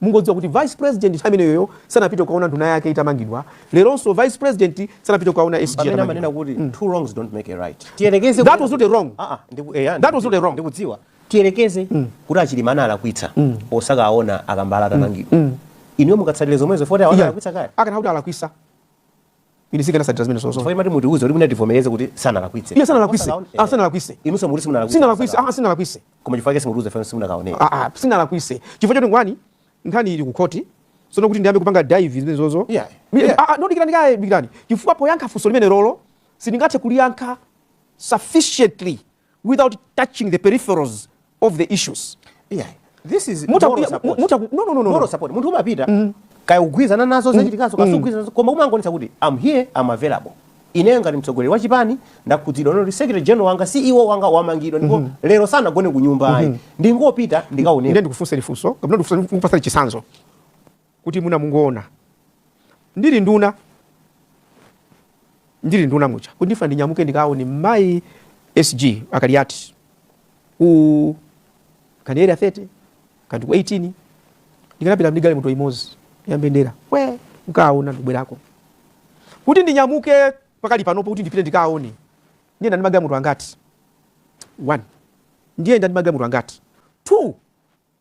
Mungodziwa kuti vice president nthawi imeneyoyo sanapite kukaona nduna yake itamangidwa, leronso vice president sanapite kukaona SG atamangidwa. pamene amanena kuti two wrongs don't make a right tiyerekeze That kuti- was not a wrong. Ah, ah, ndiku- eh, ah, That was not a wrong. ndikudziwa tiyerekeze kuti a Chilima analakwitsa osakawaona a Kambala atamangidwa inuyo mukatsatire zomwezo poti awo Yeah. analakwitsa kale Akanakhala kuti analakwisa. ine sindikanatsatira zimenezozo Chifukwa timati mutiuze kuti mwina tivomereze kuti sanalakwitse. iyayi sanalakwise Osakaone- ah sanalakwise Inuso mukuti simunalakwitse. sinalakwise ah sinalakwise Koma chifukwa chake simutiuze chomwe simunakaone. ah ah sinalakwise chifukwa choti number one nkhani ili ku khoti sono kuti ndiyambe kupanga divulge zimenezozo Yeah, Mi- yeah. ah ah, no dikirani kaye dikirani chifukwa poyankha funso limenelolo sindingathe kuliyankha sufficiently without touching the peripherals of the issues yeah. this is muta, moral support. Muta, no, no, no, no. moral support munthu umapita mm. kaya ukugwirizana nazo mm. zachitikazo mm. kaya sukugwirizana nazo koma umangonetsa kuti I'm here I'm available ineyo ngati mtsogoleri wa chipani ndakhudzidwa poti secretary general wanga ceo wanga wamangidwa ndipo mm -hmm. lero sanagone ku nyumba ayi mm -hmm. ndingopita ndikaonekere ndikufunseni funso kapena ndikupatseni chisanzo kuti mwina mungoona ndili nduna ndili nduna muja kuti ndifuna ndinyamuke ndikaone mayi sg a kaliati ku kani area 30 kandi ku 18 ndikanapita ndi galimoto imodzi ya mbendera we nkaona ndikubwerako kuti ndinyamuke pakali panopo kuti ndipite ndikaone ndiyenda ndi magalimoto angati one ndiyenda ndi magalimoto angati two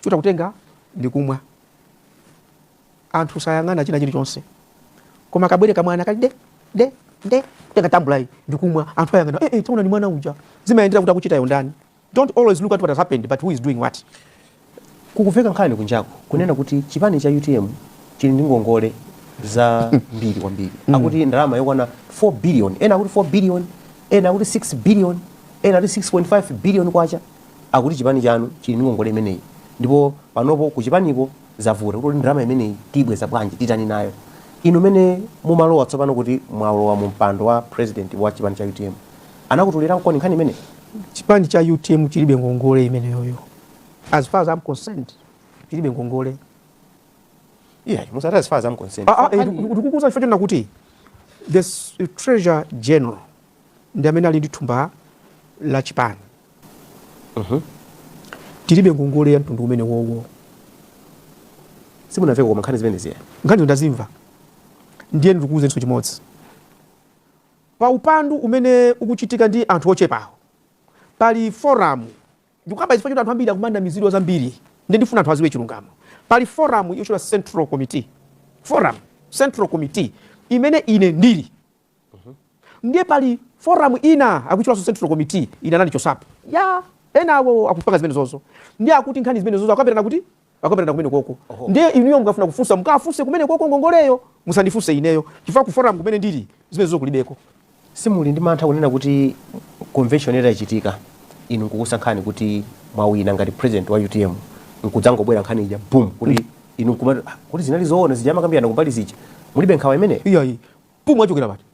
chota kutenga ndi kumwa anthu sayang'ana china chilichonse koma kabwere kamwana kali de de de tenga tambula iyi ndi kumwa anthu ayang'ana eh, eh, taona ni mwana uja zimayendera kuti akuchita yondani don't always look at what has happened but who is doing what kukumveka nkhani kunjako kunena kuti chipani cha utm chili ndi ngongole zambiri kwambiri mm. akuti ndalama yokwana 4 billion ena akuti 4 billion ena akuti 6 billion ena akuti 6.5 billion kwacha Akuti chipani chanu chili ndi ngongole imeneyi ndipo panopo kuchipaniko zavuta kuti ndalama imeneyi tiyibweza bwanji, titani nayo. Inu mene mumalowa tsopano kuti mwalowa mu mpando wa president wa chipani cha utm anakutuliraniko nkhani imeneyi? Chipani cha utm chilibe ngongole imeneyoyo as far as I'm concerned chilibe ngongole. Iyayi musati as far as I'm concerned. Aa, aa, ndikukuuza chifukwa chonena kuti the treasurer general ndi amene ali ndi thumba la chipani uh mhm. -huh. tilibe ngongole ya mtundu umenewowo simunamveko koma nkhani zimenezi nkhani ndazimva ndiye ndikuuze chinthu chimodzi pa upandu umene ukuchitika ndi anthu ochepawo pali forum ndikukamba chifukwa choti anthu ambiri akumanamizidwa zambiri nde ndifuna anthu adziwe chilungamo pali forum yotchedwa central committee forum central committee imene ine ndili Mhm. Ndiye pali forum ina akutchulanso Central Committee ina anandichotsapo. Ya enawo akupanga zimenezozo. Ndiye akuti nkhani zimenezozo akambirana kuti akambirana kumenekoko. Ndiye inuyo mukafuna kufunsa mukafunse kumenekoko ngongoleyo musandifunse ineyo. Chifukwa ku forum kumene ndili zimenezozo kulibeko. Simuli ndi mantha kunena kuti convention itachitika inu nkukusankhani kuti mwawina ngati president wa UTM nkudzangobwera nkhani ija boom kuti mm. inu nkumati ah, kuti zinali zoona zija amakambirana kumbali zija mulibe nkhawa imeneyo? Iyayi. Boom achokera pati?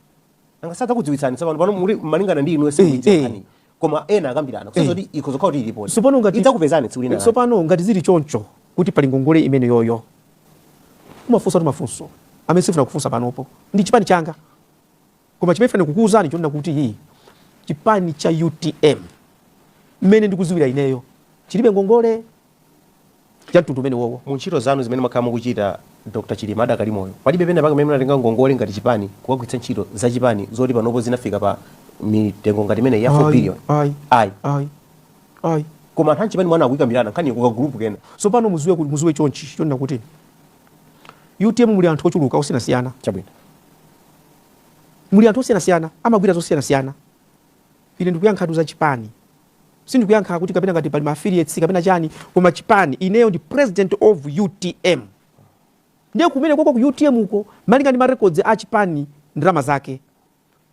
Nanga sadzakudziwitsani tsopano pano muli malingana ndi inuyo simuidziwa eh. nkhani. Koma ena akambirana kusonyeza kuti ikhoza kukhala kuti ilipo. Tsopano ngati idzakupezani tsiku lina. Tsopano ngati zili choncho kuti pali ngongole imeneyoyo. Umafunsatu mafunso amene sifuna kufunsa panopo. Ndi chipani changa. Koma chimene ndifuna kukuuzani chonena kuti hii chipani cha UTM mmene ndikudziwira ineyo chilibe ngongole cha mtundu umene wowo. Mu ntchito zanu zimene mwakhala mukuchita Dr. Chilima adakali moyo, palibe penapake pamene munatenga ngongole ngati chipani kukagwiritsa ntchito za chipani zoti panopo zinafika pa mitengo ngati imeneyi ya 4 billion? Ayi. Ayi. Ayi. Ayi. Koma anthu a m'chipani mwanu akuyikambirana nkhani ku ka group kena. So pano muziwe kuti muziwe chonchi chonena kuti UTM muli anthu ochuluka osiyanasiyana. Chabwino. Muli anthu osiyanasiyana amagwira zosiyanasiyana. Ine ndikuyankha tu za chipani. sindikuyankha kuti kapena ngati pali ma affiliates kapena chani koma chipani ineyo ndi president of utm ndiye kumene koko ku utm uko malinga ndi ma records a chipani ndalama zake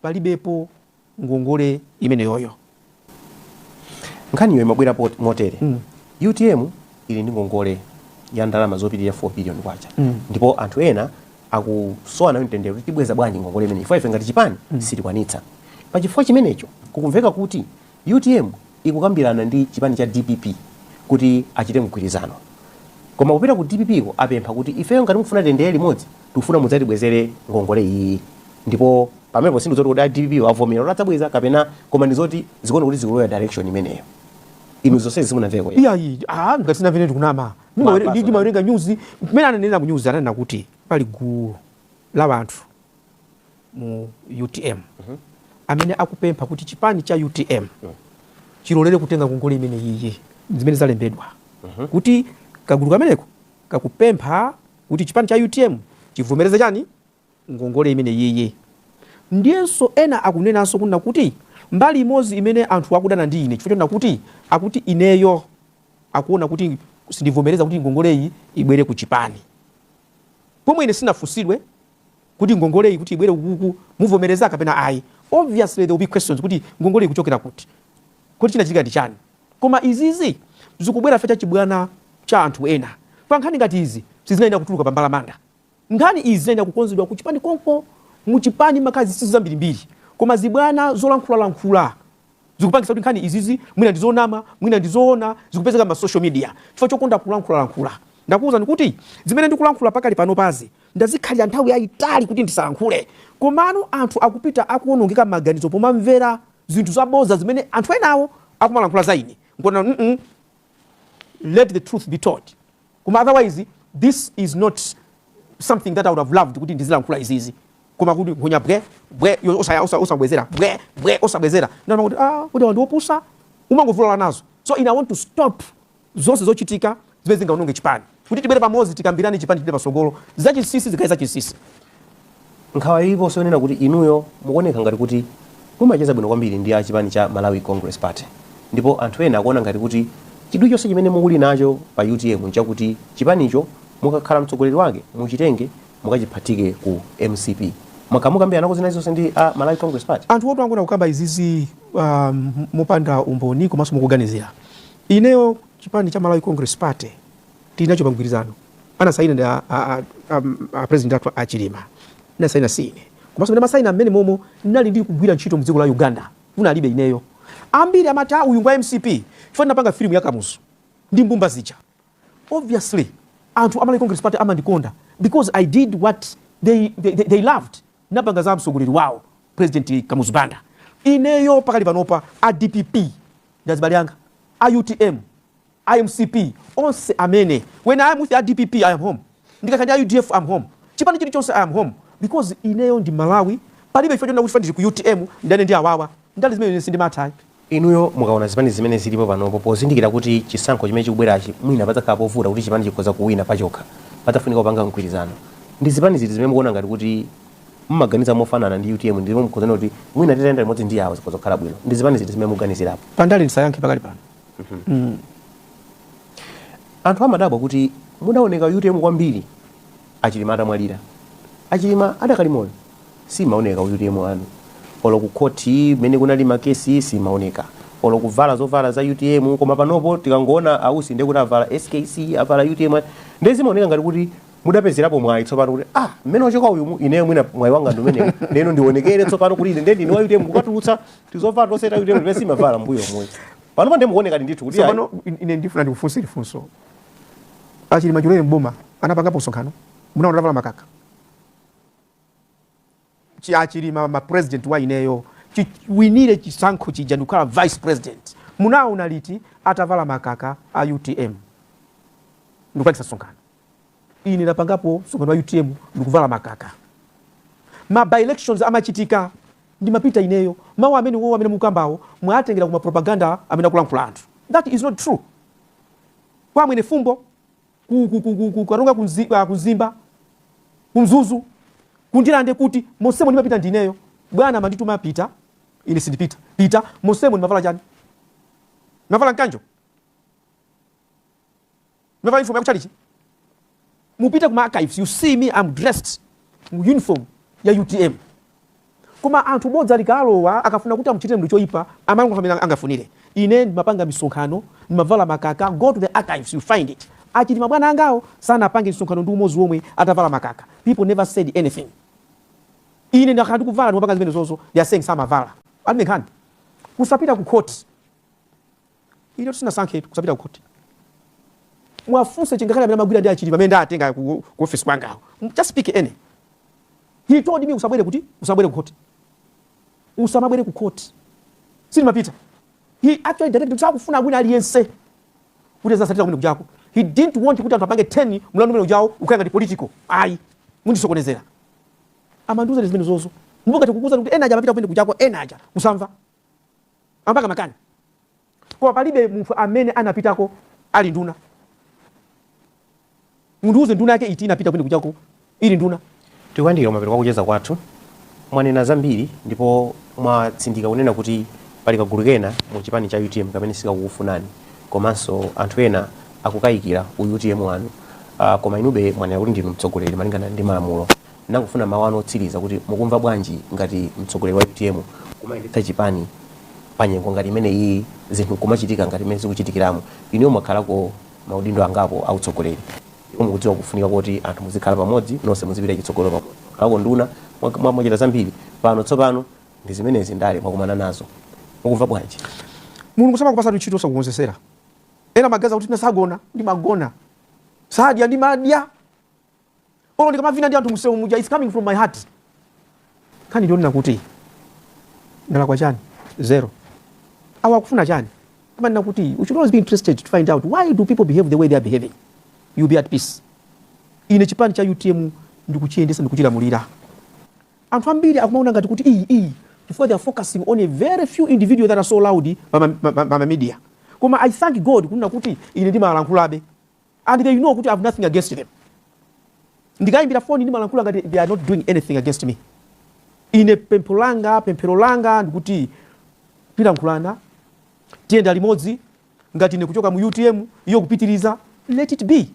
palibepo ngongole imeneyoyo nkhaniyo imabwera pot- motere mm. utm ili ndi ngongole ya ndalama zopitirira 4 billion kwacha mm. ndipo anthu ena akusowa nayo mtendere kuti tibweza bwanji ngongole imeneyi chifukwa ife ngati chipani mm. sitikwanitsa pa chifukwa chimenecho kukumveka kuti Utm ikukambirana ndi chipani cha dpp kuti achite mgwirizano koma kupita ku dpp ko apempha kuti ifeyo ngati mukufuna tiyendere limodzi tikufuna mudzatibwezere ngongole iyiyi ndipo pamenepo sindizoti kuti a dpp wo avomera kuti adzabweza kapena koma ndizoti zikuona kuti zikulowera direction imeneyo inu zonsezi simunamveko eti? iyayi ah, ngati sinamve ine ndikunama Ndimawer- Mapasa. ndi- ndimawerenga nyuzi mmene ananena ku nyuzi ananena kuti pali gulu la anthu mu utm amene akupempha kuti chipani cha utm chilolere kutenga ngongole imene iyi zimene zalembedwa kuti kagulu kameneko kakupempha kuti chipani cha utm chivomereze chani ngongole imeneyiyi ndiyenso ena akunenanso kunena kuti mbali imodzi imene anthu akudana ndi ine chifukwa chonena kuti akuti ineyo akuona kuti sindivomereza kuti ngongoleyi ibwere ku chipani pomwe ine sinafunsidwe kuti ngongoleyi kuti ibwere kukuku muvomereza kapena ayi obviously there will be questions kuti ngongoleyi kuchokera kuti kodi chinachitika ndi chani koma izizi zikubwera chifukwa cha chibwana cha anthu ena pa nkhani ngati izi sizinayenera kutuluka pa mbalamanda nkhani izi zinayenera kukonzedwa kuchipani konko muchipani mumakhala zinsinsi zambirimbiri koma zibwana zolankhulalankhula zikupangisa kuti nkhani izizi mwina ndizonama mwina ndizoona zikupezeka ma social media chifukwa chokonda kulankhula lankhula ndakuwuzani kuti zimene ndikulankhula pakali panopazi ndazikhalira nthawi yayitali kuti ndisalankhule komano anthu akupita akuwonongeka maganizo pomamvera zinthu zaboza zimene anthu enawo akumalankhula za ine n'kona mm -mm. let the truth be told Koma otherwise this is not something that I would have loved kuti ndizilankhula izizi koma kuti nkhonya bwe bwe osabwezera bwe bwe osabwezera ndana kuti ah kuti ndi opusa umangofulala nazo so ine want to stop zonse zochitika zimene zingaononge chipani kuti tibwere pamodzi tikambirane chipani chipite pasogolo zachinsinsi zikhale zachinsinsi Nkhawa iliponso yonena kuti inuyo mukuoneka ngati kuti mumacheza bwino kwambiri ndi a chipani cha Malawi Congress Party ndipo anthu ena akuona ngati kuti chidwi chonse chimene muli nacho pa utm nchakuti chipanicho mukakhala mtsogoleri wake muchitenge mukachiphatike ku mcp. Mwakhala mukukambiranako zina zonse ndi a Malawi Congress Party? Anthu oti akungokamba izizi mopanda umboni komanso mongoganizira. Ineyo chipani cha Malawi Congress Party. tili nacho pamgwirizano anasaina ndi a, a, a, a, a president athu a Chilima ndinasaina si ine komanso mmene amasaina mmenemo ndinali ndi kugwira ntchito mdziko la Uganda kunalibe ineyo ambiri amati ah, uyu ngwa MCP chifukwa ndinapanga filimu ya Kamuzu ndi mbumba zija obviously anthu amalawi congress party amandikonda because i did what they, they, they, they loved napanga za mtsogoleri wawo president Kamuzu Banda ineyo pakali panopa a dpp ndi azibale anga a utm a mcp onse amene when i am with a dpp i am home ndikakhala ndi a udf am home chipani chilichonse i am home because ineyo ndi mmalawi palibe chifukwa chonena kuti chifukwa ndili ku utm ndidane ndi awawa ndale zimene ine sindimatha ayi Inuyo mukaona zipani zimene zilipo panopo pozindikira kuti chisankho chimene chikubwerachi mwina padzakhala povuta kuti chipani chikhoza kuwina pachokha padzafunika kupanga mgwirizano ndi zipani ziti zimene mukuona ngati kuti mumaganiza mofanana ndi utm ndipo mukuona kuti mwina titayenda limodzi ndi awo zikhoza kukhala bwino ndi zipani ziti zimene mukuganizirapo pandale ndisayankhe pakali pano mm. anthu amadabwa kuti mudaoneka ku utm kwambiri achilima atamwalira achilima adakali moyo simumaoneka ku utm inu olo kukhoti mmene kunali makesi simumaoneka olo kuvala zovala za utm koma panopo tikangoona ausi ndiye kuti avala skc avala utm ndiye zimaoneka ngati kuti mudapezerapo mwayi tsopano kuti ah mmene wachoka uyu mu- ineyo mwina mwayi wanga ndi umenewu lero ndionekere tsopano kuti ine ndiye ndine wa utm kukatulutsa tizovala tonse ta utm ti simumavala mbuyomo panopa ndiye mukuonekadi ndithu kuti pano ine ndifuna ndikufunseni funso achilima chilowere mboma anapangapo msonkhano munawaona atavala makaka achi achilima, president wa ineyo chiwinire chisankho chija ndikukhala vice president munawaona liti atavala makaka a utm ndikupangisa msonkhano ine ndapangapo msonkhano wa utm ndikuvala makaka ma by elections amachitika ndimapita ineyo mawu amene wowo amene mukambawo mwatengera kuma propaganda amene akulankhula anthu that is not true kwa mwene fumbo ku- ku- ku- ku- ku- karonga kunzi- ah, kumzimba kumzuzu kundirande kuti monsemo ndimapita ndineyo bwana amandituma pita ine sindipita pita monsemo ndimavala chani ndimavala mkanjo navala uniform yakuchalichi mupite kuma archives you see me I'm dressed mu uniform ya utm koma anthu bodza likalowa akafuna kuti amuchitire munthu choyipa amango amene angafunire ine ndimapanga misonkhano ndimavala makaka go to the archives you find it a chilima bwana angawo sanapange misonkhano ndi umozi womwe atavala makaka people never said anything ine ndakhala ndikuvala ndimapanga zimene zozo they are saying samavala alibe nkhani kusapita ku court Inetu sinasankhetu kusapita kukhoti. Muwafunse chingakhale amene amagwira ndi a Chilima amene ndatenga ku ku office kwanga awo. M- Just pick any. He told me usabwere kuti usabwere kukhoti. Usamabwere kukhoti. Sindimapita. He actually directed kuti sakufuna wina aliyense kuti zasatira kumene kujako he didn't want kuti anthu apange turn mlandu umene ujawo ukhale ngati political ayi mundisokonezera amandiuza ndi zimene zozo mbukati kukuuza kuti ena aja amapita kumene kujako ena aja kusamva amapanga makani koma palibe munthu amene anapitako ali nduna mundiuze nduna yake iti inapita kumene kujako ili nduna tikuyandikira mapeto kwa kucheza kwathu mwanena zambiri ndipo mwatsindika kunena kuti pali kagulu kena mu chipani cha utm kamene sikakukufunani komanso anthu ena akukayikira u utm wanu uh, koma inube mwanena kuti ndinu mtsogoleri malingana ndi malamulo Ndangofuna mawu anu otsiliza kuti mukumva bwanji ngati mtsogoleri wa utm kumayendetsa chipani pa nyengo ngati imeneyiyi zinthu nkumachitika ngati mmene zikuchitikiramu. Inuyo mwakhalako ma udindo angapo a utsogoleri ndipo mukudziwa kufunika koti anthu muzikhala pamodzi nonse muzipita chitsogolo pamodzi. Mwakhalako nduna, mwachita zambiri. Pano tsopano ndi zimenezi ndale mwakumana nazo. Mukumva bwanji? Mulungu samakupasa ntchito osakukonzesera. Ena amaganiza kuti mwina sagona, ndimagona. Sadya, ndimadya. olo ndikamavina ndi anthu msewu muja its coming from my heart nkhani ndi yonena kuti ndalakwa chani zero awa akufuna chani amanena kuti you should always be interested to find out why do people behave the way they are behaving you be at peace ine chipani cha utm ndikuchiyendesa ndikuchilamulira anthu ambiri akumaona ngati kuti iyi iyi chifukwa they are focusing on a very few individuals that are so loud pa ma- ma- ma- ma- ma media koma i thank god kunena kuti ine ndimalankhulabe and they know kuti i have nothing against them ndikayimbira foni ndimalankhula ngati they are not doing anything against me ine pempho langa pemphero langa ndikuti tilankhulana tiyenda limodzi ngati ine kuchoka mu utm iyo kupitiriza let it be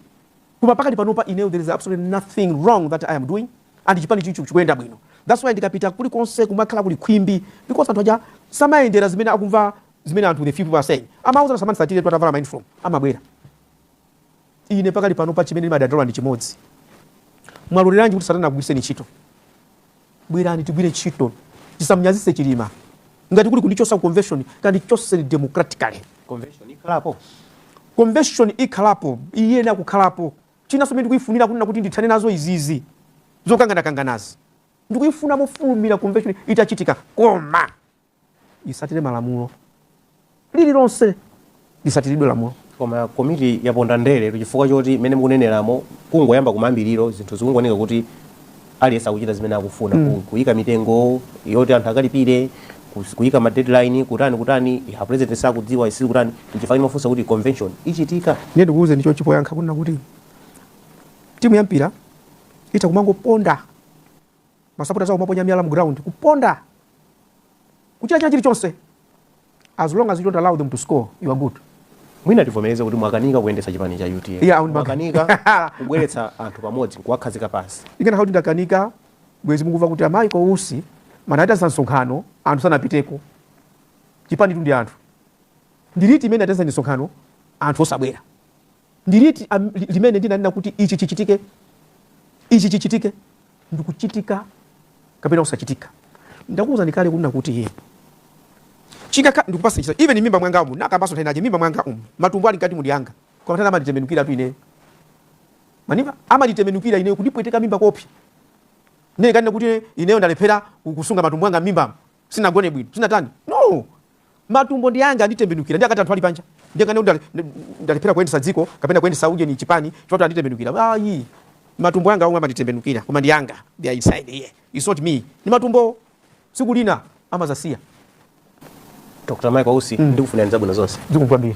koma pakati panopa ineyo there is absolutely nothing wrong that i am doing and chipani chicho chikuyenda bwino that's why ndikapita kuli konse kumakhala kuli khwimbi because anthu aja samayendera zimene akumva zimene anthu the few people are saying amauza asamandisatiretu atavala ma uniform amabwera Ine pakali pano pa chimene ndimadandaula ndi chimodzi. Mwaloleranji kuti Satana akugwiritseni ntchito? Bwerani tigwire ntchito, tisamnyazitse Chilima. Ngati kuli kundichosa ku convention, kandichoseni democratically. Convention ikhalapo, convention ikhalapo, iyenera kukhalapo. Chinanso chimene ndikuifunira, kunena kuti ndithane nazo izizi zokanganakanganazi, ndikuifuna mofulumira convention itachitika. Koma isatire malamulo lililonse lisatiridwe lamulo koma komiti yaponda ndere chifukwa choti mmene mukuneneramo kungoyamba kumayambiriro zinthu zikungoneka kuti aliyense akuchita zimene akufuna mm. kuyika mitengo yoti anthu akalipire kus- kuyika ma deadline kutani kutani ya president sakudziwa sikuti kutani nchifukwa ndimafunsa kuti convention ichitika ndiye ndikuuze ndicho chikoyankha kunena kuti timu ya mpira itha kumangoponda masapota awo amaponya miyala mu ground kuponda kuchita china chilichonse as long as you don't allow them to score you are good mwina tivomereze kuti mwakanika kuyendetsa chipani cha UTM yeah, mwakanika kubweretsa anthu pamodzi kuwakhazika pansi zikanakhala kuti ndakanika bwezi mukuva kuti a Michael Usi anaitanitsa msonkhano anthu sanapiteko chipanitu ndi anthu ndi liti limene ndaitanitsa msonkhano anthu osabwera Ndi liti am, li, limene ndinanena kuti ichi chichitike, ichi chichitike? Ndikuchitika kapena kusachitika? Ndakuwuzani kale kunena kuti iye chingakha ndikupatse chitsanzo even m'mimba mwanga umu ndinakambanso nthawi inayake m'mimba mwanga umu matumbo ali mkati umu ndi anga koma nthawi amanditembenukiratu ineyo m'mimba amanditembenukira ineyo kundipweteka m'mimba kopya ndiye kunena kuti ineyo ndalephera kusunga matumbo anga m'mimba sinagone bwino sinatani no matumbo ndi anga anditembenukira ndiye kuti anthu ali panja ndiye kuti ndale- ndalephera kuyendetsa dziko kapena kuyendetsa ujeni chipani chifukwa choti anditembenukira ayi matumbo anga omwe amanditembenukira koma ndi anga they are inside here it's not me ndi matumbo tsiku lina amadzasiya dr michael usi ndikufunirani zabwino zonse zikomo kwambiri